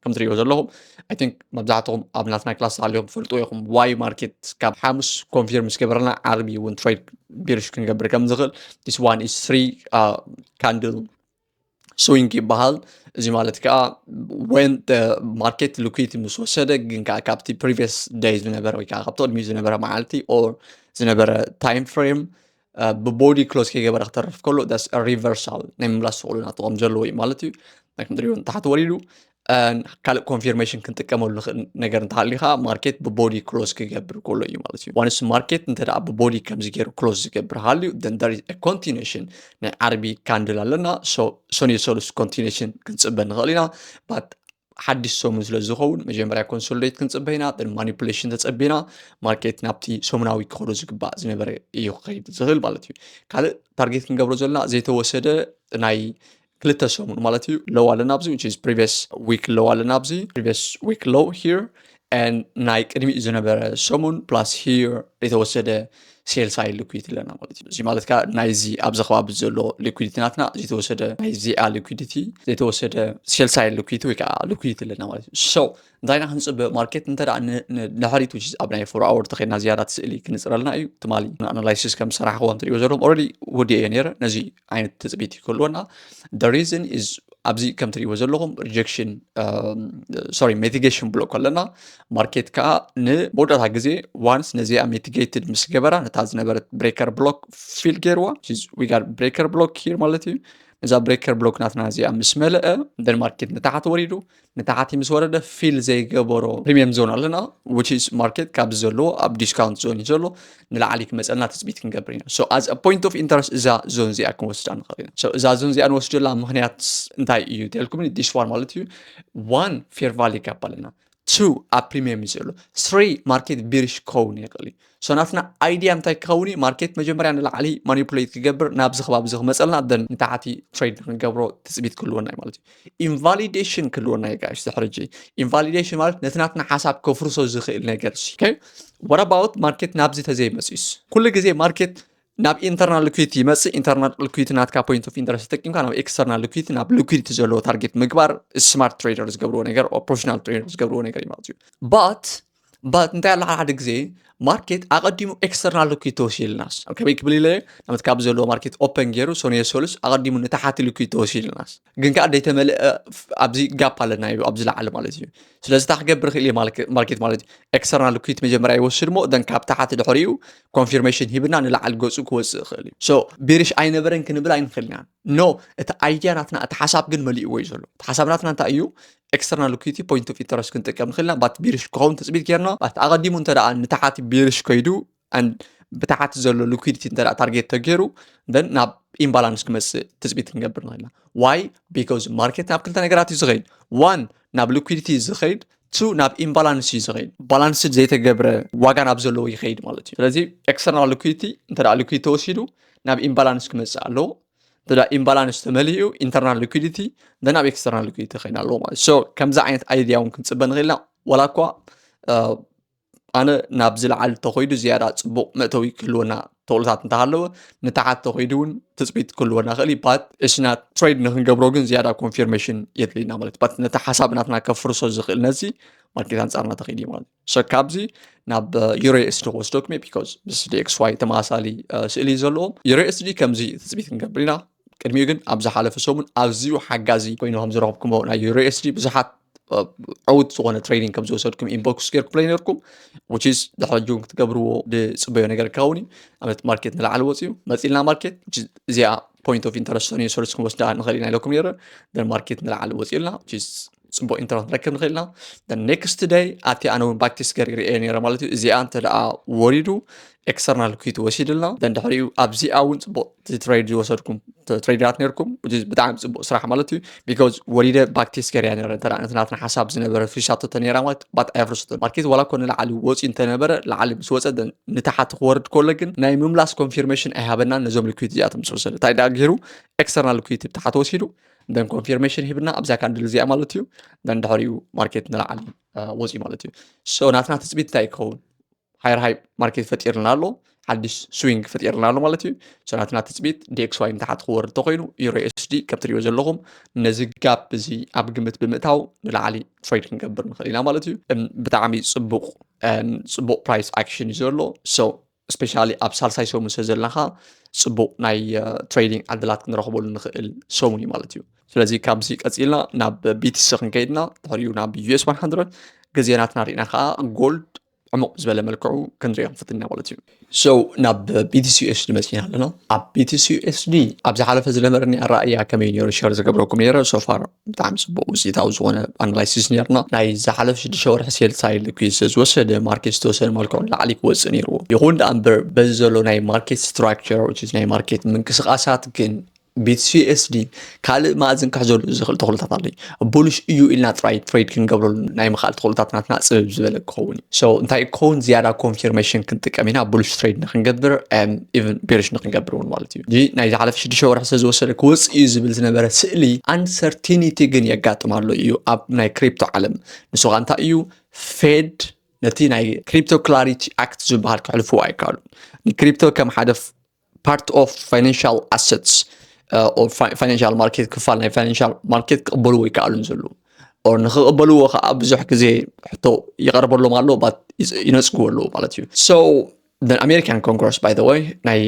ከም ትሪእዎ ዘለኹም ኣይ ቲንክ መብዛሕትኹም ኣብ ናትና ክላስ ሃልዮም ፈልጡ ኢኹም ዋይ ማርኬት ካብ ሓሙስ ኮንፊርም ምስ ገበረና ዓርቢ እውን ትሬድ ቢርሽ ክንገብር ከም ዝኽእል ዲስ ዋን ኢስ ትሪ ካንድል ስዊንግ ይበሃል እዚ ማለት ከዓ ወን ማርኬት ሊኩዊቲ ምስ ወሰደ ግን ከዓ ካብቲ ፕሪቪየስ ደይ ዝነበረ ወይ ከዓ ካብቲ ቅድሚኡ ዝነበረ መዓልቲ ኦር ዝነበረ ታይም ፍሬም ብቦዲ ክሎዝ ከይገበረ ክተርፍ ከሎ ዳስ ሪቨርሳል ናይ ምምላስ ፍቅዱ ናቱ ከም ዘለዎ እዩ ማለት እዩ ከምትሪእዎ ንታሕቲ ወሪዱ ካልእ ኮንፊርሜሽን ክንጥቀመሉ ንኽእል ነገር እንተሃልዩ ከዓ ማርኬት ብቦዲ ክሎዝ ክገብር ከሎ እዩ ማለት እዩ ዋንስ ማርኬት እንተ ብቦዲ ከምዚ ገይሩ ክሎዝ ዝገብር ሃልዩ ደንዳሪ ኮንቲኔሽን ናይ ዓርቢ ካንድል ኣለና ሰኒዮ ሰሉስ ኮንቲኔሽን ክንፅበ ንኽእል ኢና ባት ሓድሽ ሰሙን ስለ ዝኸውን መጀመርያ ኮንሶሊዴት ክንፅበ ኢና ደን ማኒፕሌሽን ተፀቢና ማርኬት ናብቲ ሰሙናዊ ክኸዶ ዝግባእ ዝነበረ እዩ ክኸይድ ዝኽእል ማለት እዩ ካልእ ታርጌት ክንገብሮ ዘለና ዘይተወሰደ ናይ ክልተ ሰሙን ማለት እዩ ሎው ኣለና ኣብዚ which is previous week low ኣለና ኣብዚ previous week low here and ናይ ቅድሚኡ ዝነበረ ሰሙን plus here የተወሰደ ሴልስ ኣይ ሊኩዊቲ ኣለና ማለት እዩ እዚ ማለት ከዓ ናይዚ ኣብዚ ከባቢ ዘሎ ሊኩዊዲቲ ናትና ዘይተወሰደ ናይዚኣ ሊኩዊዲቲ ዘይተወሰደ ሴልስ ኣይ ሊኩዊቲ ወይ ከዓ ሊኩዊዲቲ ኣለና ማለት እዩ ሰው እንታይ ኢና ክንፅበ ማርኬት እንተ ንድሕሪት ውሽ ኣብ ናይ ፎር ኣወር ተኸድና ዝያዳ ስእሊ ክንፅረልና እዩ ትማሊ ንኣናላይሲስ ከም ሰራሕክዎ እንትሪእዎ ዘለዎም ኦረዲ ወዲኦ እየ ነረ ነዚ ዓይነት ትፅቢት ይክህልወና ሪዝን ኣብዚ ከም ትሪእዎ ዘለኹም ሪጀክሽን ሶሪ ሜቲጌሽን ብሎ ከለና ማርኬት ከዓ ንመወዳእታ ግዜ ዋንስ ነዚኣ ሜቲጌትድ ምስ ገበራ ነታ ዝነበረት ብሬከር ብሎክ ፊል ገይርዋ ዊጋር ብሬከር ብሎክ ሂር ማለት እዩ ነዛ ብሬከር ብሎክ ናትና እዚኣ ምስ መለአ ደን ማርኬት ንታሓት ወሪዱ ንታሕቲ ምስ ወረደ ፊል ዘይገበሮ ፕሪሚየም ዞን ኣለና which is ማርኬት ካብ ዘለዎ ኣብ ዲስካውንት ዞን እዩ ዘሎ ንላዕሊ ክመፀና ትፅቢት ክንገብር ኢና so as a point of interest እዛ ዞን እዚኣ ክንወስዳ ንኽእል ኢና so እዛ ዞን እዚኣ ንወስደላ ምክንያት እንታይ እዩ ተልኩም this one ማለት እዩ one fair value gap ኣለና two ኣብ ፕሪሚየም እዩ ዘሎ three ማርኬት ቢሪሽ ክኸውን ይኽእል እዩ ሰናፍና ኣይድያ እንታይ ክኸውን እዩ ማርኬት መጀመርያ ንላዕሊ ማኒፕሌት ክገብር ናብዚ ከባቢ እዚ ክመፀልና ደን ንታሕቲ ትሬድ ንክንገብሮ ትፅቢት ክህልወና እዩ ማለት እዩ ኢንቫሊዴሽን ክህልወና እዩ ጋሽ ድሕሪ ሕጂ ኢንቫሊዴሽን ማለት ነቲ ናትና ሓሳብ ከፍርሶ ዝኽእል ነገር ሲ ወረባውት ማርኬት ናብዚ ተዘይመፅዩስ ኩሉ ግዜ ማርኬት ናብ ኢንተርናል ልኩዊቲ ይመፅእ ኢንተርናል ልኩዊቲ ናትካ ፖይንት ኦፍ ኢንተረስት ተጠቂምካ ናብ ኤክስተርናል ልኩዊቲ ናብ ልኩዊቲ ዘለዎ ታርጌት ምግባር ስማርት ትሬደር ዝገብርዎ ነገር ፕሮፌሽናል ትሬደር ዝገብርዎ ነገር እዩ ማለት እዩ ባት እባ እንታይ ኣሎ ሓደ ሓደ ግዜ ማርኬት ኣቐዲሙ ኤክስተርናል ልኩድ ተወሲልናስ ከመይ ክብል ኢለ ናመት ካብ ዘለዎ ማርኬት ኦፐን ገይሩ ሰኑየ ሰሉስ ኣቐዲሙ ንታሓቲ ልኩድ ተወሲልናስ ግን ከዓ ደይተመልአ ኣብዚ ጋፕ ኣለና ዩ ኣብዚ ላዓለ ማለት እዩ ስለዚ እታ ክገብር ክእል እየ ማርኬት ማለት እዩ ኤክስተርናል ልኩድ መጀመርያ ይወስድ ሞ ደን ካብ ታሓቲ ድሕሪኡ ኮንፊርሜሽን ሂብና ንላዓል ገፁ ክወፅእ ይኽእል እዩ ሶ ቢሪሽ ኣይነበረን ክንብል ኣይንኽእል ኢና ኖ እቲ ኣይድያ ናትና እቲ ሓሳብ ግን መሊእዎ እዩ ዘሎ እቲ ሓሳብ ናትና እንታይ እዩ ኤክስተርናል ሊኩዊቲ ፖይንት ኦፍ ኢንተረስት ክንጥቀም ንኽእል ኢና ባት ቢሪሽ ክኸውን ትፅቢት ጌርና ባት ኣቐዲሙ እንተ ደኣ ንታሓቲ ቢሪሽ ከይዱ ብታሓቲ ዘሎ ሊኩዊዲቲ እንተ ደኣ ታርጌት ተገይሩ ደን ናብ ኢምባላንስ ክመፅእ ትፅቢት ክንገብር ንኽእል ኢና ዋይ ቢኮዝ ማርኬት ናብ ክልተ ነገራት እዩ ዝኸይድ ዋን ናብ ሊኩዊዲቲ ዝኸይድ ቱ ናብ ኢምባላንስ እዩ ዝኸይድ ባላንስድ ዘይተገብረ ዋጋ ናብ ዘለዎ ይኸይድ ማለት እዩ ስለዚ ኤክስተርናል ሊኩዊቲ እንተ ደኣ ሊኩዊቲ ተወሲዱ ናብ ኢምባላንስ ክመፅእ ኣለዎ እንተ ኢምባላንስ ተመሊኡ ኢንተርናል ሊኩዲቲ ደን ኣብ ኤክስተርናል ሊኩዲቲ ከይና ኣለዎ ማለት ሶ ከምዚ ዓይነት ኣይድያ እውን ክንፅበ ንኽእል ኢና ዋላ እኳ ኣነ ናብ ዝለዓል እንተኮይዱ ዝያዳ ፅቡቅ መእተዊ ክህልወና ተኽእሎታት እንተሃለወ ንታሓት ተኮይዱ እውን ትፅቢት ክህልወና ክእል እዩ ባት እስና ትሬድ ንክንገብሮ ግን ዝያዳ ኮንፊርሜሽን የድልየና ማለት ባት ነቲ ሓሳብ ናትና ከፍርሶ ዝኽእል ነዚ ማርኬት ኣንፃርና ተኸይድ ማለት ሶ ካብዚ ናብ ዩሬኤስዲ ክወስዶ ክመ ቢካዝ ምስ ዲኤክስዋይ ተመሳሳሊ ስእሊ እዩ ዘለዎም ዩሬኤስዲ ከምዚ ትፅቢት ክንገብር ኢና ቅድሚኡ ግን ኣብ ዝሓለፈ ሰሙን ኣዝዩ ሓጋዚ ኮይኑ ከም ዝረኽብኩሞ ናይ ዩሬኤስዲ ብዙሓት ዕውት ዝኾነ ትሬኒንግ ከም ዝወሰድኩም ኢንቦክስ ገርኩምለይ ነርኩም ውችዝ ድሕሪ ጁን ክትገብርዎ ዝፅበዮ ነገር ክኸውን እዩ ኣብነት ማርኬት ንላዕሊ ወፅዩ መፂልና ማርኬት እዚኣ ፖይንት ኦፍ ኢንተረስት ሰኒዮ ሰሉስ ክንወስዳ ንኽእል ኢና ኢለኩም ነረ ደን ማርኬት ንላዕሊ ወፂኡልና ፅቡቅ ኢንተርነት ክንረክብ ንክእል ኢና ኔክስት ደይ ኣቲ ኣነ እውን ባክ ቴስት ገርግር እየ ነረ ማለት እዩ እዚኣ እንተ ደኣ ወሪዱ ኤክስተርናል ኩይት ወሲድልና ደን ድሕሪኡ ኣብዚኣ እውን ፅቡቅ ትሬድ ዝወሰድኩም ትሬድራት ነርኩም ብጣዕሚ ፅቡቅ ስራሕ ማለት እዩ ቢካዝ ወሪደ ባክ ቴስት ገርያ ነረ እንተ ነቲ ናትና ሓሳብ ዝነበረ ፍሪሻቶተ ነራ ማለት ባት ኣየፍርሶቶ ማርኬት ዋላ ኮ ንላዕሊ ወፂ እንተነበረ ላዕሊ ምስ ወፀ ደን ንታሓቲ ክወርድ ከሎ ግን ናይ ምምላስ ኮንፊርሜሽን ኣይሃበናን ነዞም ልኩይት እዚኣቶም ምስ ወሰደ እንታይ ደኣ ገይሩ ኤክስተርናል ኩይት ብታሓቲ ወሲዱ ደን ኮንፊርሜሽን ሂብና ኣብዛ ካንድል እዚኣ ማለት እዩ ደን ድሕሪኡ ማርኬት ንላዕሊ ወፅዩ ማለት እዩ ሶ ናትና ትፅቢት እንታይ ይኸውን ሃይር ሃይ ማርኬት ፈጢርና ኣሎ ሓድሽ ስዊንግ ፈጢርና ኣሎ ማለት እዩ ሶ ናትና ትፅቢት ዲኤክስዋይ ንታሓት ክወርድ ተኮይኑ ዩሮ ኤስዲ ከም ትሪኦ ዘለኹም ነዚ ጋፕ እዚ ኣብ ግምት ብምእታው ንላዕሊ ትሬድ ክንገብር ንኽእል ኢና ማለት እዩ ብጣዕሚ ፅቡቅ ፅቡቅ ፕራይስ ኣክሽን እዩ ዘሎ ሶ ስፔሻሊ ኣብ ሳልሳይ ሰሙን ስለ ዘለና ከዓ ፅቡቅ ናይ ትሬዲንግ ዕድላት ክንረኽበሉ ንኽእል ሰሙን እዩ ማለት እዩ ስለዚ ካብዚ ቀፂልና ናብ ቢቲሲ ክንከይድና ድሕሪኡ ናብ ዩኤስ 100 ግዜ ናትና ርኢና ከዓ ጎልድ ዕሙቅ ዝበለ መልክዑ ክንሪኦ ክንፍትን ኢና ማለት እዩ ሶ ናብ ቢቲሲ ዩኤስዲ መፂና ኣለና ኣብ ቢቲሲ ዩኤስዲ ኣብ ዝሓለፈ ዝነበረኒ ኣረኣያ ከመይ ነይሩ ሸር ዝገብረኩም ነይረ ሶፋር ብጣዕሚ ጽቡቅ ውጽኢታዊ ዝኾነ ኣናላይሲስ ነርና ናይ ዝሓለፍ ሽዱሽተ ወርሒ ሴል ሳይል ሊኩዊድ ስለዝወሰደ ማርኬት ዝተወሰነ መልክዑ ንላዕሊ ክወጽእ ነይርዎ ይኹን ደኣ እምበር በዚ ዘሎ ናይ ማርኬት ስትራክቸር ናይ ማርኬት ምንቅስቃሳት ግን ቢትሲኤስዲ ካልእ ማእዝን ክሕዘሉ ዝኽእል ተኽእሎታት ኣለዩ ቡልሽ እዩ ኢልና ጥራይ ትሬድ ክንገብረሉ ናይ ምኽኣል ተኽእሎታት ናትና ፅብብ ዝበለ ክኸውን እዩ ሶ እንታይ ክኸውን ዝያዳ ኮንፊርሜሽን ክንጥቀም ኢና ቡልሽ ትሬድ ንክንገብር ኢቨን ቤሪሽ ንክንገብር እውን ማለት እዩ ሕጂ ናይ ዝሓለፈ ሽዱሽተ ወርሒ ስለ ዝወሰደ ክወጽእ እዩ ዝብል ዝነበረ ስእሊ ኣንሰርቲኒቲ ግን የጋጥም ኣሎ እዩ ኣብ ናይ ክሪፕቶ ዓለም ንሱ ኸ እንታይ እዩ ፌድ ነቲ ናይ ክሪፕቶ ክላሪቲ ኣክት ዝበሃል ክሕልፍዎ ኣይከኣሉን ንክሪፕቶ ከም ሓደ ፓርት ኦፍ ፋይናንሽል ኣሰትስ ፋይናንሽል ማርኬት ክፋል ናይ ፋይናንሽል ማርኬት ክቕበልዎ ይከኣሉን ዘሉ ኦር ንክቕበልዎ ከዓ ብዙሕ ግዜ ሕቶ ይቐርበሎም ኣሎ ባት ይነፅግዎ ኣለዎ ማለት እዩ ሶ ኣሜሪካን ኮንግረስ ባይ ዘ ወይ ናይ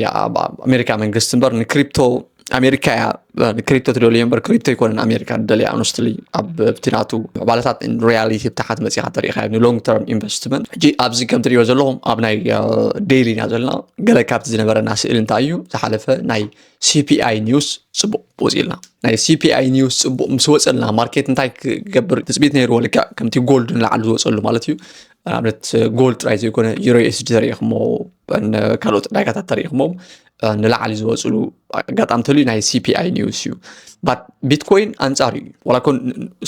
ኣሜሪካ መንግስቲ እምበር ንክሪፕቶ ኣሜሪካ እያ ንክሪፕቶ ትደልዮ እምበር ክሪፕቶ ኣይኮነን ኣሜሪካ ደልያ ኣንስትሊ ኣብቲ ናቱ ምዕባለታት ሪያሊቲ ብታሓት መፂኻ ተሪኢኻ ንሎንግ ተርም ኢንቨስትመንት ሕጂ ኣብዚ ከም ትሪእዮ ዘለኹም ኣብ ናይ ዴይሊ ኢና ዘለና ገለ ካብቲ ዝነበረና ስእሊ እንታይ እዩ ዝሓለፈ ናይ ሲፒኣይ ኒውስ ፅቡቅ ወፂእልና ናይ ሲፒኣይ ኒውስ ፅቡቅ ምስ ወፀልና ማርኬት እንታይ ክገብር ትፅቢት ነይርዎ ልክዕ ከምቲ ጎልድ ንላዕሊ ዝወፀሉ ማለት እዩ ንኣብነት ጎል ጥራይ ዘይኮነ ዩሮ ኤስዲ ተሪኢኹሞ ካልኦት ዕዳጋታት ተሪኢኹሞ ንላዕሊ ዝወፅሉ ኣጋጣሚ ተልዩ ናይ ሲፒኣይ ኒውስ እዩ ቢትኮይን ኣንፃር እዩ ዋላ ኮን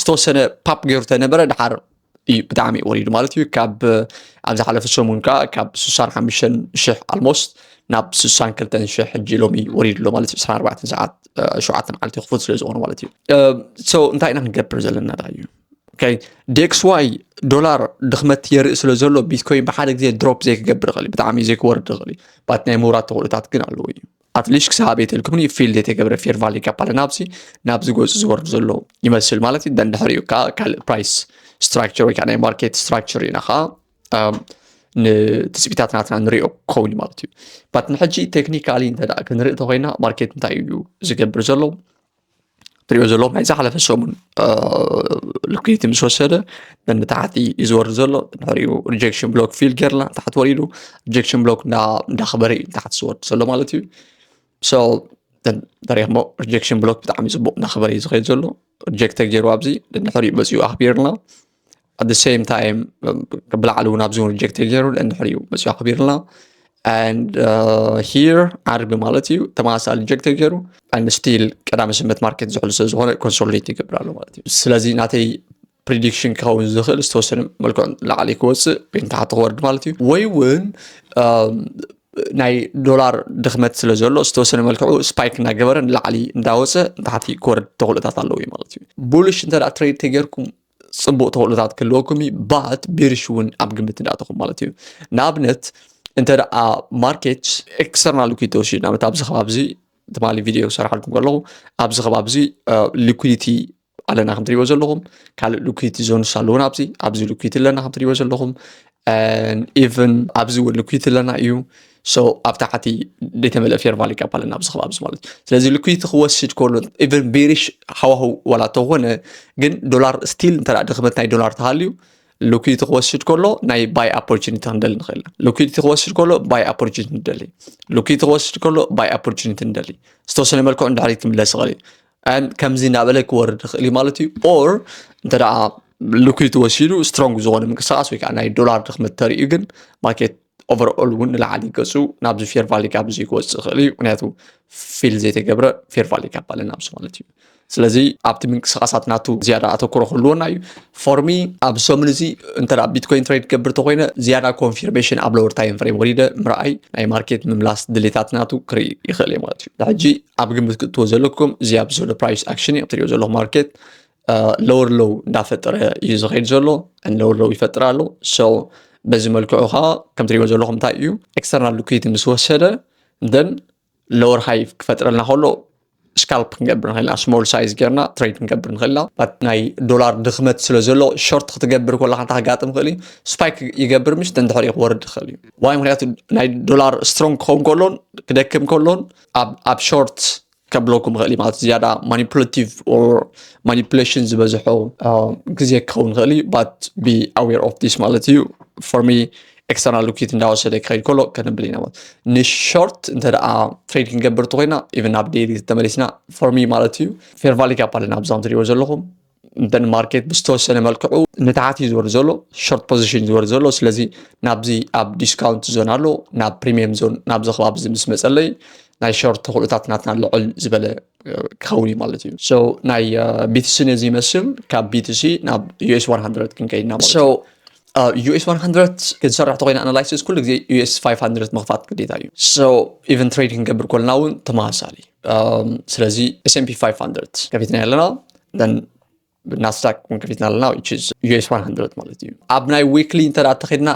ዝተወሰነ ፓፕ ገይሩ ተነበረ ድሓር እዩ ብጣዕሚ ወሪዱ ማለት እዩ ካብ ኣብ ዝሓለፈ ሰሙን ከዓ ካብ 65 ሽሕ ኣልሞስት ናብ 62 ሽሕ ሕጂ ሎሚ ወሪዱ ኣሎ ማለት እዩ 24 ሰዓት ሸውዓተ መዓልቲ ክፉት ስለ ዝኾነ ማለት እዩ እንታይ ኢና ክንገብር ዘለና ዳ እዩ ዴክስዋይ ዶላር ድኽመት የርኢ ስለ ዘሎ ቢትኮይን ብሓደ ግዜ ድሮፕ ዘይክገብር ይኽእል እዩ ብጣዕሚ ዘይክወርድ ይኽእል እዩ ባት ናይ ምውራት ተኽእሎታት ግን ኣለዎ እዩ ኣትሊሽ ክሳብ ኣበይ ተልክምኒ ፊልድ የተገብረ ፌር ቫሊ ካፓለ ናብዚ ናብዚ ገፁ ዝወርድ ዘሎ ይመስል ማለት እዩ ደንድሕሪኡ ከዓ ካልእ ፕራይስ ስትራክቸር ወይ ከዓ ናይ ማርኬት ስትራክቸር ኢና ከዓ ንትፅቢታት ናትና ንሪኦ ክኸውን እዩ ማለት እዩ ባት ንሕጂ ቴክኒካሊ እንተ ክንርኢ ተኮይና ማርኬት እንታይ እዩ ዝገብር ዘሎ ትሪኦ ዘሎ ናይ ዝሓለፈ ሰሙን ልኩይቲ ምስ ወሰደ ንታሕቲ እዩ ዝወርድ ዘሎ ንሕሪኡ ሪጀክሽን ብሎክ ፊል ጌርና ታሕቲ ወሪዱ ሪጀክሽን ብሎክ እንዳኽበረ እዩ ታሕቲ ዝወርድ ዘሎ ማለት እዩ ሶ ተሪኽሞ ሪጀክሽን ብሎክ ብጣዕሚ ፅቡቅ እናኽበረ እዩ ዝኸይድ ዘሎ ሪጀክተ ገይሩ ኣብዚ ንሕሪኡ መፂኡ ኣኽቢርና at the same time ብላዕሊ እውን ኣብዚ እውን ሪጀክት ገይሩ እንድሕር እዩ መፅኡ ኣኽቢርና and uh, here ዓርቢ ማለት እዩ ተመሳሳሊ ሪጀክት ገይሩ and still ቀዳመ ስምት ማርኬት ዝሕሉ ስለ ዝኾነ ኮንሶሊዴት ይገብር ኣሎ ማለት እዩ ስለዚ ናተይ ፕሪዲክሽን ክኸውን ዝኽእል ዝተወሰነ መልክዑ ላዕሊ ክወፅእ ወይ ንታሕቲ ክወርድ ማለት እዩ ወይ እውን ናይ ዶላር ድኽመት ስለ ዘሎ ዝተወሰነ መልክዑ ስፓይክ እናገበረ ንላዕሊ እንዳወፀ ንታሕቲ ክወርድ ተኽእሎታት ኣለዎ ማለት እዩ ቡልሽ እንተ ትሬድ ተገርኩም ፅቡቕ ተኽእሎታት ክህልወኩም እዩ ባት ብርሽ እውን ኣብ ግምት እንዳእተኹም ማለት እዩ ንኣብነት እንተ ደኣ ማርኬት ኤክስተርናል ሊኩዲቲ ወሲድ ንኣብነት ኣብዚ ከባቢ እዚ ትማሊ ቪድዮ ሰርሓልኩም ከለኹ ኣብዚ ከባቢ እዚ ሊኩዲቲ ኣለና ከም ትሪእዎ ዘለኹም ካልእ ሊኩዲቲ ዞንስ ኣለዉን ኣብዚ ኣብዚ ሊኩዲቲ ኣለና ከም ትሪእዎ ዘለኹም ኢቨን ኣብዚ እውን ሊኩዲቲ ኣለና እዩ ሶ ኣብ ታሕቲ ዘይተመልአ ፌርማል ይቀበለና ኣብዚ ከባቢ እዚ ማለት እዩ ስለዚ ልኩይቲ ክወስድ ከሎ ኢቨን ቤሪሽ ሃዋህው ዋላ ተኾነ ግን ዶላር ስቲል እንተ ድኽመት ናይ ዶላር ተሃልዩ ልኩይቲ ክወስድ ከሎ ናይ ባይ ኦፖርቹኒቲ ክንደሊ ንኽእል ኢና ልኩይቲ ክወስድ ከሎ ባይ ኦፖርቹኒቲ ንደሊ ልኩይቲ ክወስድ ከሎ ባይ ኦፖርቹኒቲ ንደሊ ዝተወሰነ መልክዑ ንድሕሪት ክምለስ ይኽእል እዩ ከምዚ እናበለ ክወርድ ይኽእል እዩ ማለት እዩ ኦር እንተ ልኩይቲ ወሲዱ ስትሮንግ ዝኾነ ምንቅስቃስ ወይ ከዓ ናይ ዶላር ድኽመት ተርእዩ ግን ማርኬት ኦቨርኦል እውን ንላዕሊ ገፁ ናብዚ ፌር ቫሊ ካብ እዚ ክወፅእ ይኽእል እዩ ምክንያቱ ፊል ዘይተገብረ ፌር ቫሊ ካብ ባለ ናብዚ ማለት እዩ ስለዚ ኣብቲ ምንቅስቃሳት ናቱ ዝያዳ ኣተኩሮ ክህልወና እዩ ፎርሚ ኣብ ሰሙን እዚ እንተ ቢትኮይን ትሬድ ገብር ተኮይነ ዝያዳ ኮንፊርሜሽን ኣብ ለወር ታይም ፍሬም ወሪደ ምርኣይ ናይ ማርኬት ምምላስ ድሌታት ናቱ ክርኢ ይኽእል እዩ ማለት እዩ ሕጂ ኣብ ግምት ክትዎ ዘለኩም እዚ ኣብ ዘሎ ፕራይስ ኣክሽን እዩ ትሪኦ ዘለኹ ማርኬት ሎወር ሎው እንዳፈጠረ እዩ ዝኸይድ ዘሎ ሎወር ሎው ይፈጥር ኣሎ ሰው በዚ መልክዑ ከዓ ከምቲ ሪኦ ዘለኹም እንታይ እዩ ኤክስተርናል ሊኩዊድ ምስ ወሰደ ደን ሎወር ሃይ ክፈጥረልና ከሎ ስካልፕ ክንገብር ንኽእልና ስሞል ሳይዝ ጌርና ትሬድ ክንገብር ንኽእልና ናይ ዶላር ድኽመት ስለ ዘሎ ሾርት ክትገብር ከለካ እንታይ ክጋጥም ይኽእል እዩ ስፓይክ ይገብር ምሽ ደንድሕሪ ክወርድ ይኽእል እዩ ዋይ ምክንያቱ ናይ ዶላር ስትሮንግ ክኸውን ከሎን ክደክም ከሎን ኣብ ሾርት ከብለኩም ይኽእል እዩ ማለት ዝያዳ ማኒፕሌቲቭ ኦር ማኒፕሌሽን ዝበዝሖ ግዜ ክኸውን ይኽእል እዩ ባት ቢ ኣዌር ኦፍ ዲስ ማለት እዩ ፎር ሚ ኤክስተርናል ሉኪት እንዳወሰደ ክኸይድ ከሎ ከነብል ኢና ማለት ንሾርት እንተ ደኣ ትሬድ ክንገብር እንተኮይና ኢቨን ናብ ዴይሊ ተመሊስና ፎር ሚ ማለት እዩ ፌርቫሊ ጋፕ ኣለና ኣብዛም ትሪእዎ ዘለኹም እንተን ማርኬት ብዝተወሰነ መልክዑ ንታሕቲ እዩ ዝወርድ ዘሎ ሾርት ፖዚሽን ዝወርድ ዘሎ ስለዚ ናብዚ ኣብ ዲስካውንት ዞን ኣሎ ናብ ፕሪሚየም ዞን ናብዚ ከባቢ እዚ ምስ መፀለይ ናይ ሾርት ተኽእሎታት ናትና ልዕል ዝበለ ክኸውን እዩ ማለት እዩ ሶ ናይ ቢቲሲ ነዚ ይመስል ካብ ቢቲሲ ናብ ዩኤስ 100 ክንከይድና ማለት እዩ ኣብ ዩኤስ 100 ክትሰርሕ ተኮይና ኣናላይሲስ ኩሉ ግዜ ዩኤስ 500 ምኽፋት ግዴታ እዩ ሶ ኢቨን ትሬድ ክንገብር ኮልና እውን ተመሳሳሊ ስለዚ ኤስኤምፒ 500 ከፊትና ኣለና ናስዳክ እውን ከፊትና ኣለና ዩኤስ 100 ማለት እዩ ኣብ ናይ ዊክሊ እንተ ተኸድና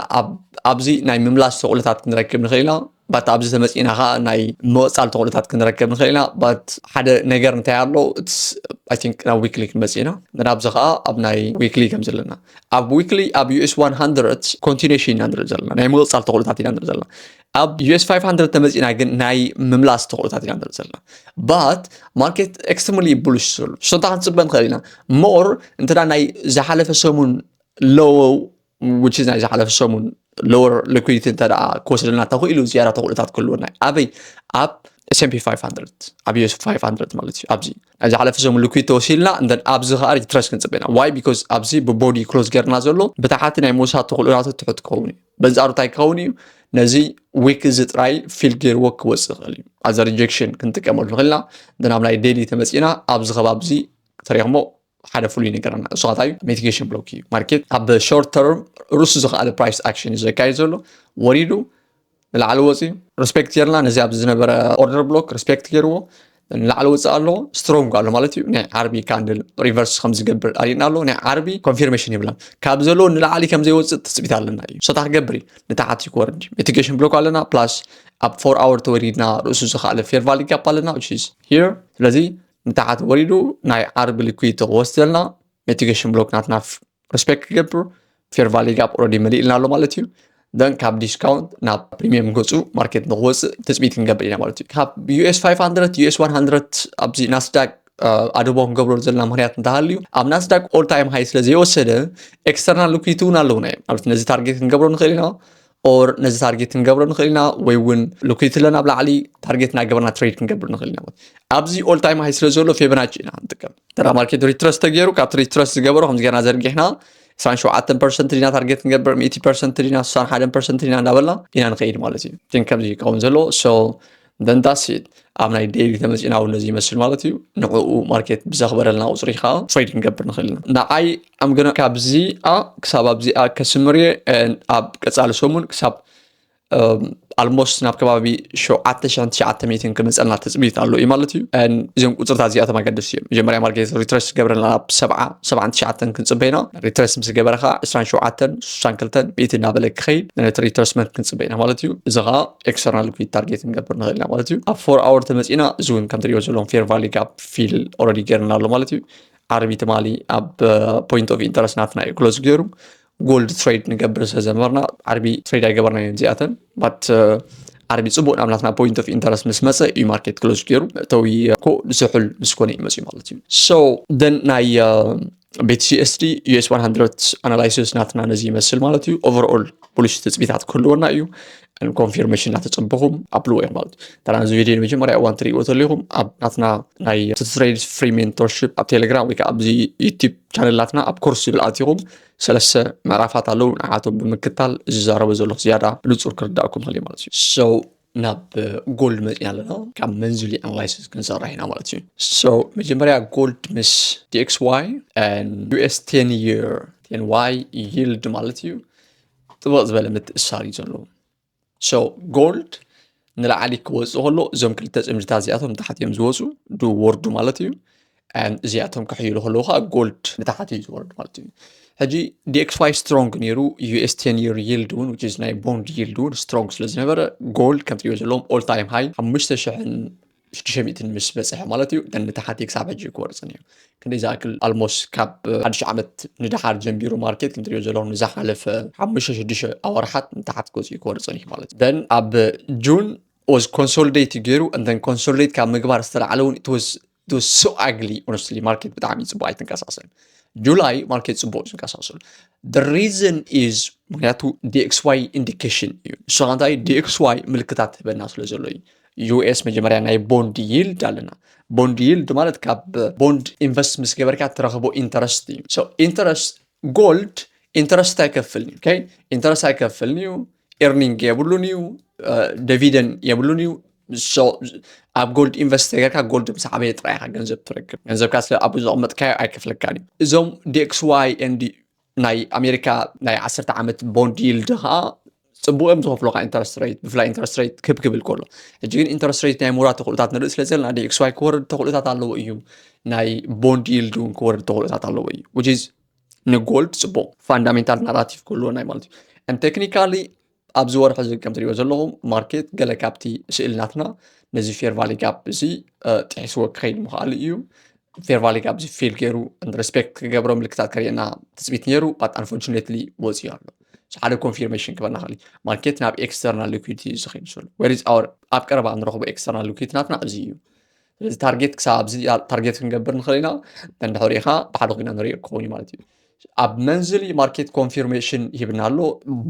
ኣብዚ ናይ ምምላስ ተኽእሎታት ክንረክብ ንኽእል ኢና ባት ኣብዚ ተመፂና ከዓ ናይ መወፃል ተኽእሎታት ክንረከብ ንኽእል ኢና ባት ሓደ ነገር እንታይ ኣሎ ኣይ ቲንክ ናብ ዊክሊ ክንመፅእ ኢና ናብዚ ከዓ ኣብ ናይ ዊክሊ ከም ዘለና ኣብ ዊክሊ ኣብ ዩኤስ 100 ኮንቲኒሽን ኢና ንርኢ ዘለና ናይ ምቕፃል ተኽእሎታት ኢና ንርኢ ዘለና ኣብ ዩኤስ 500 ተመፂና ግን ናይ ምምላስ ተኽእሎታት ኢና ንርኢ ዘለና ባት ማርኬት ኤክስትሪምሊ ቡልሽ ዘሎ ሽቶታ ክንፅበ ንኽእል ኢና ሞር እንተ ናይ ዝሓለፈ ሰሙን ሎው which is ናይ ዝሓለፈ ሰሙን ሎወር ሊኩዲቲ እንተ ክወስደልና ተኽኢሉ ዝያዳ ተኽእሎታት ክህልወና እዩ ኣበይ ኣብ ኤስምፒ 500 ኣብ ዩስ 500 ማለት እዩ ኣብዚ ናይ ዝሓለፈ ሰሙን ሊኩድ ተወሲድና እንተን ኣብዚ ከዓ ሪትረስ ክንፅበና ዋይ ቢኮዝ ኣብዚ ብቦዲ ክሎዝ ገርና ዘሎ ብታሓቲ ናይ ምውሳድ ተኽእሎናቱ ትሑት ክኸውን እዩ በንፃሩ እንታይ ክኸውን እዩ ነዚ ዊክ እዚ ጥራይ ፊል ገይርዎ ክወፅእ ይኽእል እዩ ኣዘ ሪጀክሽን ክንጥቀመሉ ንኽእልና ንናብ ናይ ዴሊ ተመፂና ኣብዚ ከባቢ እዚ ተሪኽሞ ሓደ ፍሉይ ነገር ኣና እሱ ካታዩ ሚቲጌሽን ብሎክ እዩ ማርኬት ኣብ ሾርት ተርም ርሱ ዝኸኣለ ፕራይስ ኣክሽን እዩ ዘካየድ ዘሎ ወሪዱ ንላዕሊ ወፂ ሪስፔክት ጌርና ነዚ ኣብ ዝነበረ ኦርደር ብሎክ ሪስፔክት ገይርዎ ንላዕሊ ወፅእ ኣሎ ስትሮንግ ኣሎ ማለት እዩ ናይ ዓርቢ ካንድል ሪቨርስ ከምዝገብር ኣሪእና ኣሎ ናይ ዓርቢ ኮንፊርሜሽን ይብላን ካብ ዘለዎ ንላዕሊ ከምዘይወፅእ ትፅቢት ኣለና እዩ ሰታ ክገብር እዩ ንታሓት ይክወርድ ሚቲጌሽን ብሎክ ኣለና ፕላስ ኣብ ፎር ኣወር ተወሪድና ርእሱ ዝኸኣለ ፌር ቫሊ ጋፕ ኣለና ስለዚ ንታሓት ወሪዱ ናይ ዓርቢ ሊኩዊድ ክወስደልና ነቲ ገሽን ብሎክ ናትና ሪስፔክት ክገብር ፌር ቫሊ ጋፕ ኦልሬዲ መሊእልና ኣሎ ማለት እዩ ደን ካብ ዲስካውንት ናብ ፕሪሚየም ገፁ ማርኬት ንክወፅእ ትፅቢት ክንገብር ኢና ማለት እዩ ካብ ዩኤስ 500 ዩኤስ 100 ኣብዚ ናስዳቅ ኣድቦ ክንገብረሉ ዘለና ምክንያት እንተሃልዩ ኣብ ናስዳቅ ኦል ታይም ሃይ ስለ ዘይወሰደ ኤክስተርናል ሊኩዊቲ እውን ኣለውና እዮም ማለት ነዚ ታርጌት ክንገብሮ ንኽእል ኢና ኦር ነዚ ታርጌት ክንገብሮ ንኽእል ኢና ወይ እውን ልኩይትለ ናብ ላዕሊ ታርጌት እናገበርና ትሬድ ክንገብር ንኽእል ኢና ኣብዚ ኦል ታይም ሃይ ስለ ዘሎ ፌበናች ኢና ንጥቀም ተራ ማርኬት ሪትረስ ተገይሩ ካብቲ ሪትረስ ዝገበሮ ከምዚ ገርና ዘርጊሕና 27 ፐርሰንት ዲና ታርጌት ክንገብር 100 ፐርሰንት ዲና 61 ፐርሰንት ዲና እንዳበልና ኢና ንኸይድ ማለት እዩ ግን ከምዚ ይከውን ዘሎ ደንታሲት ኣብ ናይ ዴይሊ ተመፂና እውን ነዚ ይመስል ማለት እዩ ንዕኡ ማርኬት ብዘኽበረልና ቁፅሪ ከዓ ትሬድ ክንገብር ንኽእል ኢና ንዓይ ኣምገና ካብዚኣ ክሳብ ኣብዚኣ ከስምር እየ ኣብ ቀፃሊ ሰሙን ክሳብ ኣልሞስት ናብ ከባቢ 7900 ክመፀልና ትፅቢት ኣሎ እዩ ማለት እዩ እዚኦም ቁፅርታት እዚኣቶም ኣገደስቲ እዮም መጀመርያ ማርኬት ሪትረስ ገበረልና ናብ 79 ክንፅበይና ሪትረስ ምስ ገበረ ከዓ 27 62 እናበለ ክኸይድ ነቲ ሪትረስመንት ክንፅበይና ማለት እዩ እዚ ከዓ ኤክስተርናል ሊኩዊድ ታርጌት ክንገብር ንኽእል ኢና ማለት እዩ ኣብ ፎር ኣወር ተመፂና እዚ እውን ከም ትሪኦ ዘለዎም ፌር ቫሊ ጋፕ ፊል ኦረዲ ገይርና ኣሎ ማለት እዩ ዓርቢ ትማሊ ኣብ ፖይንት ኦፍ ኢንተረስት ናትና እዩ ክሎዝ ገይሩ ጎልድ ትሬድ ንገብር ስለዘመርና ዓርቢ ትሬድ ኣይገበርና እዮም እዚኣተን ባት ዓርቢ ፅቡቅ ናብ ናትና ፖይንት ኦፍ ኢንተረስት ምስ መፀ እዩ ማርኬት ክሎዝ ገይሩ መእተዊ ኮ ዝሑል ምስ ኮነ እዩ መፅዩ ማለት እዩ ሶ ደን ናይ ቤትሲኤስዲ ዩኤስ 100 ኣናላይሲስ ናትና ነዚ ይመስል ማለት እዩ ኦቨርኦል ፖሊሲ ትፅቢታት ክህልወና እዩ ኮንፊርሜሽን እናተፀበኹም ኣብልዎ እዮም ማለት እዩ ተራ እዚ ቪድዮ ንመጀመርያ እዋን ትሪእዎ ተለኹም ኣብ ናትና ናይ ትትሬድ ፍሪ ሜንቶርሽፕ ኣብ ቴሌግራም ወይ ከዓ ኣብዚ ዩቲብ ቻነል ናትና ኣብ ኮርስ ዝብል ኣትኹም ሰለስተ ምዕራፋት ኣለዉ ንዓቶም ብምክታል ዝዛረበ ዘለኹ ዝያዳ ብንፁር ክርዳእኩም ክእል ማለት እዩ ናብ ጎልድ መፅና ኣለና ካብ መንዝሊ ኣናላይሲስ ክንሰርሕ ኢና ማለት እዩ ሶ መጀመርያ ጎልድ ምስ ዲኤክስ ዋይ ዩኤስ ቴን የር ቴን ዋይ ይልድ ማለት እዩ ጥበቕ ዝበለ ምትእሳር እዩ ዘለዎ ሶ ጎልድ ንላዕሊ ክወፅእ ከሎ እዞም ክልተ ፅምድታት እዚኣቶም ታሕት እዮም ዝወፁ ድወርዱ ማለት እዩ እዚኣቶም ክሕይሉ ከለዉ ከዓ ጎልድ ንታሕት እዩ ዝወርድ ማለት እዩ ሕጂ ዲኤክስዋይ ዋይ ስትሮንግ ነይሩ ዩኤስ ቴን ይር ይልድ እውን ዊች ናይ ቦንድ ይልድ እውን ስትሮንግ ስለ ዝነበረ ጎልድ ከም ትሪኦ ዘለዎም ኦል ታይም ሃይ ሓሙሽተ ሽሕን ሽዱሽተ ሚእትን ምስ በፅሐ ማለት እዩ ደን ንታሓቲ ክሳብ ሕጂ ክወርፅን እዩ ክንደይ ዝኣክል ኣልሞስ ካብ ሓድሽ ዓመት ንደሓር ጀንቢሩ ማርኬት ክንትሪዮ ዘለዎም ንዝሓለፈ ሓሙሽተ ሽዱሽተ ኣወርሓት ንታሓቲ ክወፅኡ ክወርፅን እዩ ማለት እዩ ደን ኣብ ጁን ኦዝ ኮንሶልዴት ገይሩ እንተን ኮንሶልዴት ካብ ምግባር ዝተላዕለ እውን ኢትወዝ ሶ ኣግሊ ኦነስትሊ ማርኬት ብጣዕሚ ፅቡቅ ኣይትንቀሳቀስን ጁላይ ማርኬት ፅቡቅ እዩ ዝንቀሳቀስሉ ሪዝን ኢዝ ምክንያቱ ዲኤክስዋይ ኢንዲኬሽን እዩ ንሱ ከ እንታይ ዲኤክስዋይ ምልክታት ህበና ስለ ዘሎ እዩ ዩኤስ መጀመርያ ናይ ቦንድ ይልድ ኣለና ቦንድ ይልድ ማለት ካብ ቦንድ ኢንቨስት ምስ ገበርካ እትረኽቦ ኢንተረስት እዩ ኢንተረስት ጎልድ ኢንተረስት ኣይከፍልን እዩ ኢንተረስት ኣይከፍልን እዩ ኤርኒንግ የብሉን እዩ ደቪደን የብሉን እዩ ኣብ ጎልድ ኢንቨስት ተገርካ ጎልድ ምስ ዓበየ ጥራይ ኢኻ ገንዘብ ትረክብ ገንዘብካ ስለ ኣብ ዘቐመጥካዮ ኣይከፍለካን እዩ እዞም ዲኤክስዋይ ኤንዲ ናይ ኣሜሪካ ናይ ዓሰርተ ዓመት ቦንድ ይልድ ከዓ ፅቡቅ እዮም ዝኸፍሉካ ኢንተረስት ሬት ብፍላይ ኢንተረስት ሬት ክብ ክብል ከሎ ሕጂ ግን ኢንተረስት ሬት ናይ ምውራድ ተኽእሎታት ንርኢ ስለ ዘለና ዲኤክስዋይ ክወርድ ተኽእሎታት ኣለዎ እዩ ናይ ቦንድ ይልድ እውን ክወርድ ተኽእሎታት ኣለዎ እዩ ዊች ንጎልድ ፅቡቅ ፋንዳሜንታል ናራቲቭ ክህልወና ማለት እዩ ቴክኒካሊ ኣብዚ ወርሒ እዚ ከም ትሪእዎ ዘለኹም ማርኬት ገለ ካብቲ ስእሊ ናትና ነዚ ፌር ቫሊ ጋፕ እዚ ጥሒስዎ ክኸይድ ምኽኣሉ እዩ ፌር ቫሊ ጋፕ እዚ ፌል ገይሩ ሬስፔክት ክገብሮ ምልክታት ከርእየና ትፅቢት ነይሩ ባት ኣንፎርቹኔትሊ ወፂኡ ኣሎ ሓደ ኮንፊርሜሽን ክበና ክእል ማርኬት ናብ ኤክስተርናል ሊኩዊዲቲ እዩ ዝኸይድ ዘሎ ወሪዝ ኣወር ኣብ ቀረባ ንረኽቦ ኤክስተርናል ሊኩዊዲቲ ናትና እዚ እዩ ስለዚ ታርጌት ክሳብ ኣብዚ ታርጌት ክንገብር ንኽእል ኢና እንድሕር ሪኢኻ ብሓደ ኮይና ንሪኦ ክኸውን እዩ ማለት እዩ ኣብ መንዝሊ ማርኬት ኮንፊርሜሽን ሂብና ኣሎ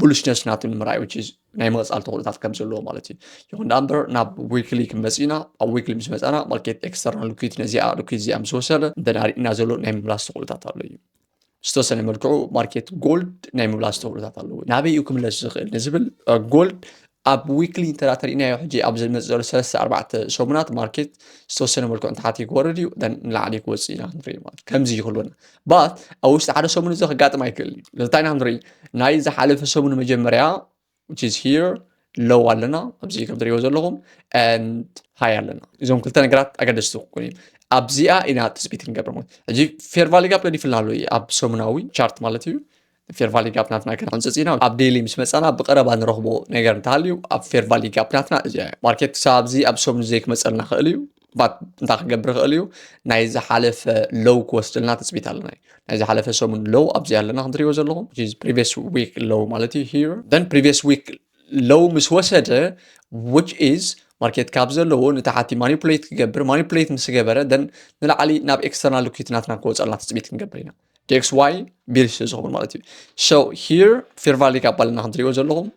ቡልሽነስ ናቱ ንምርኣይ ዊች ናይ መቕፃል ተኽእሎታት ከም ዘለዎ ማለት እዩ ይኹን ዳ እምበር ናብ ዊክሊ ክንመፅ ኢና ኣብ ዊክሊ ምስ መፃና ማርኬት ኤክስተርናል ሉኪት ነዚኣ ሉኪት እዚኣ ምስ ወሰደ እንተዳ ርኢና ዘሎ ናይ ምምላስ ተኽእሎታት ኣሎ እዩ ዝተወሰነ መልክዑ ማርኬት ጎልድ ናይ ምብላ ዝተብሎታት ኣለዎ ናበይ እዩ ክምለስ ዝኽእል ንዝብል ጎልድ ኣብ ዊክሊ እንተዳተርእናዮ ሕጂ ኣብ ዝመፅ ዘሎ ሰለስተ ኣርባዕተ ሰሙናት ማርኬት ዝተወሰነ መልክዑ እንተሓቲ ክወርድ እዩ ን ንላዕሊ ክወፅ ኢና ክንርኢ ማለት ከምዚ ይክህልወና ባት ኣብ ውሽጢ ሓደ ሰሙን እዚ ክጋጥም ኣይክእልን እዩ እንታይ ኢና ክንርኢ ናይ ዝሓለፈ ሰሙን መጀመርያ which is here ሎው ኣለና ኣብዚ ከም ትሪእዎ ዘለኹም and ሃይ ኣለና እዞም ክልተ ነገራት ኣገደስቲ ክኾኑ እዮም ኣብዚኣ ኢና ትፅቢት ክንገብር ማለት ሕጂ ፌር ቫሊ ጋፕ ገዲፍላ ኣሎ እዩ ኣብ ሰሙናዊ ቻርት ማለት እዩ ፌር ቫሊ ጋፕ ናትና ክንሕንፅፅ ኢና ኣብ ዴይሊ ምስ መፃና ብቀረባ ንረኽቦ ነገር እንተሃልዩ ኣብ ፌር ቫሊ ጋፕ ናትና እዚ ማርኬት ክሳብ ኣብዚ ኣብ ሰሙን ዘይክመፀልና ክእል እዩ ባት እንታይ ክገብር ይኽእል እዩ ናይ ዝሓለፈ ሎው ክወስድልና ትፅቢት ኣለና እዩ ናይ ዝሓለፈ ሰሙን ሎው ኣብዚ ኣለና ከምትሪእዎ ዘለኹም ፕሪቪየስ ዊክ ሎው ማለት እዩ ሂር ን ፕሪቪየስ ዊክ ሎው ምስ ወሰደ ዊች ኢዝ ማርኬት ካብ ዘለዎ ንታሓቲ ማኒፕሌት ክገብር ማኒፕሌት ምስ ገበረ ን ንላዕሊ ናብ ኤክስተርናል ሊኩዊት ናትና ክወፀልና ትፅቢት ክንገብር ኢና ዴክስ ዋይ ቢር ስለ ዝኸውን ማለት እዩ ሶ ሂር ፌርቫሊክ ኣባልና ከምትሪእዎ ዘለኹም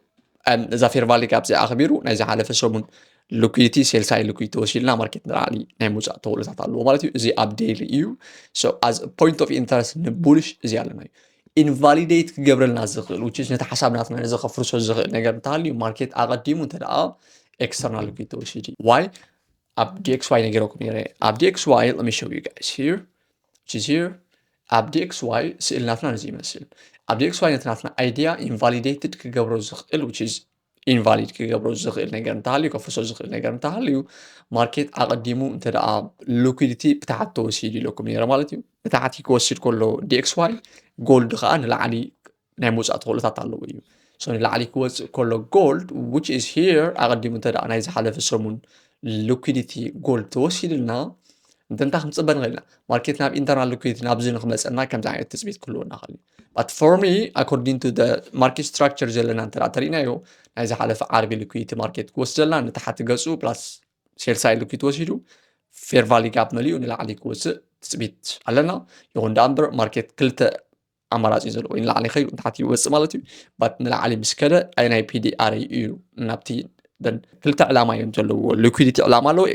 እዛ ፌርቫሊክ ኣብዚ ኣኽቢሩ ናይ ዝሓለፈ ሰሙን ልኩይቲ ሴልሳይ ልኩይቲ ወሲድና ማርኬት ንላዕሊ ናይ ምውፃእ ተኽእሎታት ኣለዎ ማለት እዩ እዚ ኣብ ዴይሊ እዩ ሶ ኣዝ ፖይንት ኦፍ ኢንተረስት ንቡልሽ እዚ ኣለና እዩ ኢንቫሊዴት ክገብረልና ዝኽእል ውጭ ነቲ ሓሳብ ናትና ነዚ ከፍርሶ ዝኽእል ነገር እንተሃልዩ ማርኬት ኣቐዲሙ እንተደኣ ኤክስተርናል ልኩይቲ ወሲድ እዩ ዋይ ኣብ dxy ነገረኩም ነረ ኣብ dxy let me show you guys here which is here ኣብ dxy ስእሊ ናትና ነዚ ይመስል ኣብ dxy ነቲ ናትና ኣይዲያ ኢንቫሊዴትድ ክገብሮ ዝኽእል which is ኢንቫሊድ ክገብሮ ዝኽእል ነገር እንተሃልዩ ከፍርሶ ዝኽእል ነገር እንተሃልዩ ማርኬት ኣቐዲሙ እንተ ደኣ ሊኩዲቲ ብታሕቲ ተወሲዱ ኢለኩም ነረ ማለት እዩ ብታሕቲ ክወስድ ከሎ dxy ጎልድ ከዓ ንላዕሊ ናይ ምውፃእ ተኽእሎታት ኣለዎ እዩ ሶ ንላዕሊ ክወፅእ ከሎ ጎልድ ዊች ኢዝ ሂር ኣቐዲሙ እንተ ናይ ዝሓለፈ ሰሙን ሊኩዲቲ ጎልድ ተወሲድልና እንተንታ ክንፅበ ንኽእል ኢና ማርኬት ናብ ኢንተርናል ሊኩዲቲ ናብዚ ንክመፀና ከምዚ ዓይነት ትፅቢት ክህልወና ይኽእል እዩ ባት ፎር ሚ ኣኮርዲንግ ቱ ማርኬት ስትራክቸር ዘለና እንተ ተሪእናዮ ናይ ዝሓለፈ ዓርቢ ሊኩዲቲ ማርኬት ክወስደልና ንታሓቲ ገፁ ፕላስ ሴልሳይ ሊኩዲቲ ወሲዱ ፌር ቫሊ ጋፕ መሊኡ ንላዕሊ ክወፅእ ትፅቢት ኣለና ይኹን ዳኣ እምበር ማርኬት ክልተ ኣማራፂ እዩ ዘሎ ወይ ንላዕሊ ይኸይድ ወይ ንታሕቲ ይወፅእ ማለት እዩ ባት ንላዕሊ ምስ ከደ ኣየናይ ፒዲኣር እዩ ናብቲ ክልተ ዕላማ እዮም ዘለዎ ሊኩዲቲ ዕላማ ኣለዎ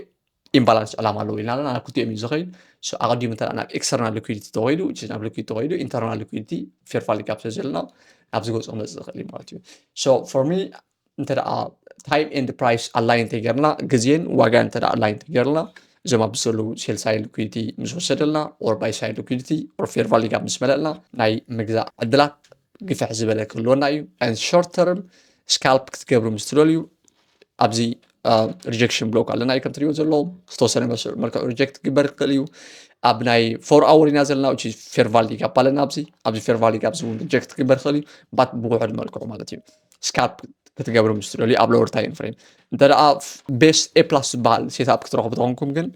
ኢምባላንስ ዕላማ ኣለዎ ኢልና ኣለና ናብ ክልቲኦም እዩ ዝኸይድ ኣቐዲሙ እንተ ናብ ኤክስተርናል ሊኩዲቲ ተኸይዱ ናብ ሊኩዲቲ ተኸይዱ ኢንተርናል ሊኩዲቲ ፌርፋሊ ጋፕ ስለ ዘለና ናብዚ ገፅ ክመፅእ ዝኽእል እዩ ማለት እዩ ሶ ፎር ሚ እንተደኣ ታይም ኤንድ ፕራይስ ኣላይን ተገርና ግዜን ዋጋን እንተደኣ ኣላይን ተገርና እዞም ኣብዚ ዘለዉ ሴል ሳይድ ሊኩዲቲ ምስ ወሰደልና ኦር ባይ ሳይድ ሊኩዲቲ ኦር ፌር ቫሊ ጋፕ ምስ መለእና ናይ ምግዛእ ዕድላት ግፍሕ ዝበለ ክህልወና እዩ ን ሾርት ተርም ስካልፕ ክትገብሩ ምስ ትደልዩ ኣብዚ ሪጀክሽን ብሎክ ኣለና እዩ ከምትሪእዎ ዘሎ ዝተወሰነ መልክዑ ሪጀክት ክግበር ይኽእል እዩ ኣብ ናይ ፎር ኣወር ኢና ዘለና እ ፌር ቫሊ ጋፕ ኣለና ኣብዚ ኣብዚ ፌር ቫሊ ጋፕ እውን ሪጀክት ክግበር ይኽእል እዩ ባት ብውሕድ መልክዑ ማለት እዩ ስካፕ ክትገብሩ ምስ ትደልዩ ኣብ ሎወር ታይም ፍሬም እንተ ቤስ ኤ ፕላስ ዝበሃል ሴትኣፕ ክትረኽቡ ተኾንኩም ግን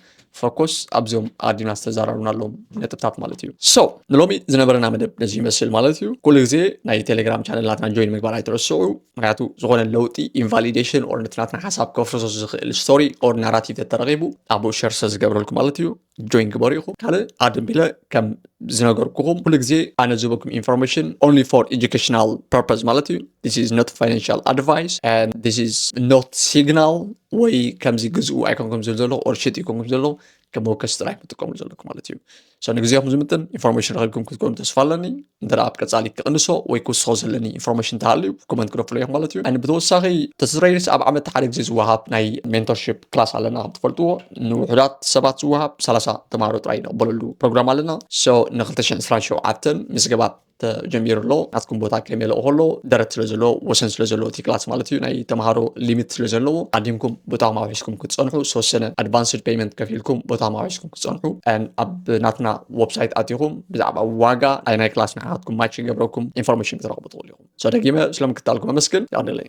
ፈኮስ ኣብዞም ኣዲና ዝተዘራሩና ኣለዎም ነጥብታት ማለት እዩ ሶ ንሎሚ ዝነበረና መደብ ነዚ ይመስል ማለት እዩ ኩሉ ግዜ ናይ ቴሌግራም ቻነላትና ጆይን ምግባር ኣይትረስዑ ምክንያቱ ዝኾነ ለውጢ ኢንቫሊዴሽን ኦር ነቲ ናትና ሓሳብ ከፍርሶ ዝኽእል ስቶሪ ኦር ናራቲቭ ተተረኺቡ ኣብኡ ሸር ዝገብረልኩ ማለት እዩ ጆይን ግበሩ ኢኹም ካልእ ኣድም ቢለ ከም ዝነገርኩኹም ኩሉ ግዜ ኣነ ዝህበኩም ኢንፎርሜሽን ኦንሊ ፎር ኤጁኬሽናል ፐርፐዝ ማለት እዩ ዚስ ኢዝ ኖት ፋይናንሽል ኣድቫይስ ን ዚስ ኢዝ ኖት ሲግናል ወይ ከምዚ ግዝኡ ኣይኮንኩም ዝብል ዘለኹ ኦር ሽጥ ይኮንኩም ዘለኹ ከም መወከሲ ጥራይ ክትጥቀሙ ዘለኩም ማለት እዩ ሶ ንግዜኹም ዝምጥን ኢንፎርሜሽን ረኺብኩም ክትኮኑ ተስፋ ኣለኒ እንተ ኣብ ቀጻሊ ክቕንሶ ወይ ክውስኾ ዘለኒ ኢንፎርሜሽን ተሃልዩ ኮመንት ክደፍሎ እዮም ማለት እዩ ን ብተወሳኺ ተስረይርስ ኣብ ዓመት ሓደ ግዜ ዝወሃብ ናይ ሜንቶርሽፕ ክላስ ኣለና ከም ትፈልጥዎ ንውሑዳት ሰባት ዝወሃብ 30 ተማሃሮ ጥራይ ንቕበለሉ ፕሮግራም ኣለና ሶ ን227 ምዝገባት ተጀሚሩ ኣሎ ናትኩም ቦታ ከመይ ለኦ ከሎ ደረት ስለ ዘለዎ ወሰን ስለ ዘለዎ እቲ ክላስ ማለት እዩ ናይ ተምሃሮ ሊሚት ስለ ዘለዎ ኣዲምኩም ቦታ ማውሒስኩም ክትፀንሑ ዝተወሰነ ኣድቫንስድ ፔይመንት ከፊልኩም ቦታ ማውሒስኩም ክትፀንሑ ኣብ ናትና ወብሳይት ኣትኹም ብዛዕባ ዋጋ ኣይናይ ክላስ ንዓኻትኩም ማች ይገብረኩም ኢንፎርሜሽን ክትረኽቡ ትኽእሉ ኢኹም። ሰደጊመ ስለምክታልኩም ኣመስግን። የቐንየለይ።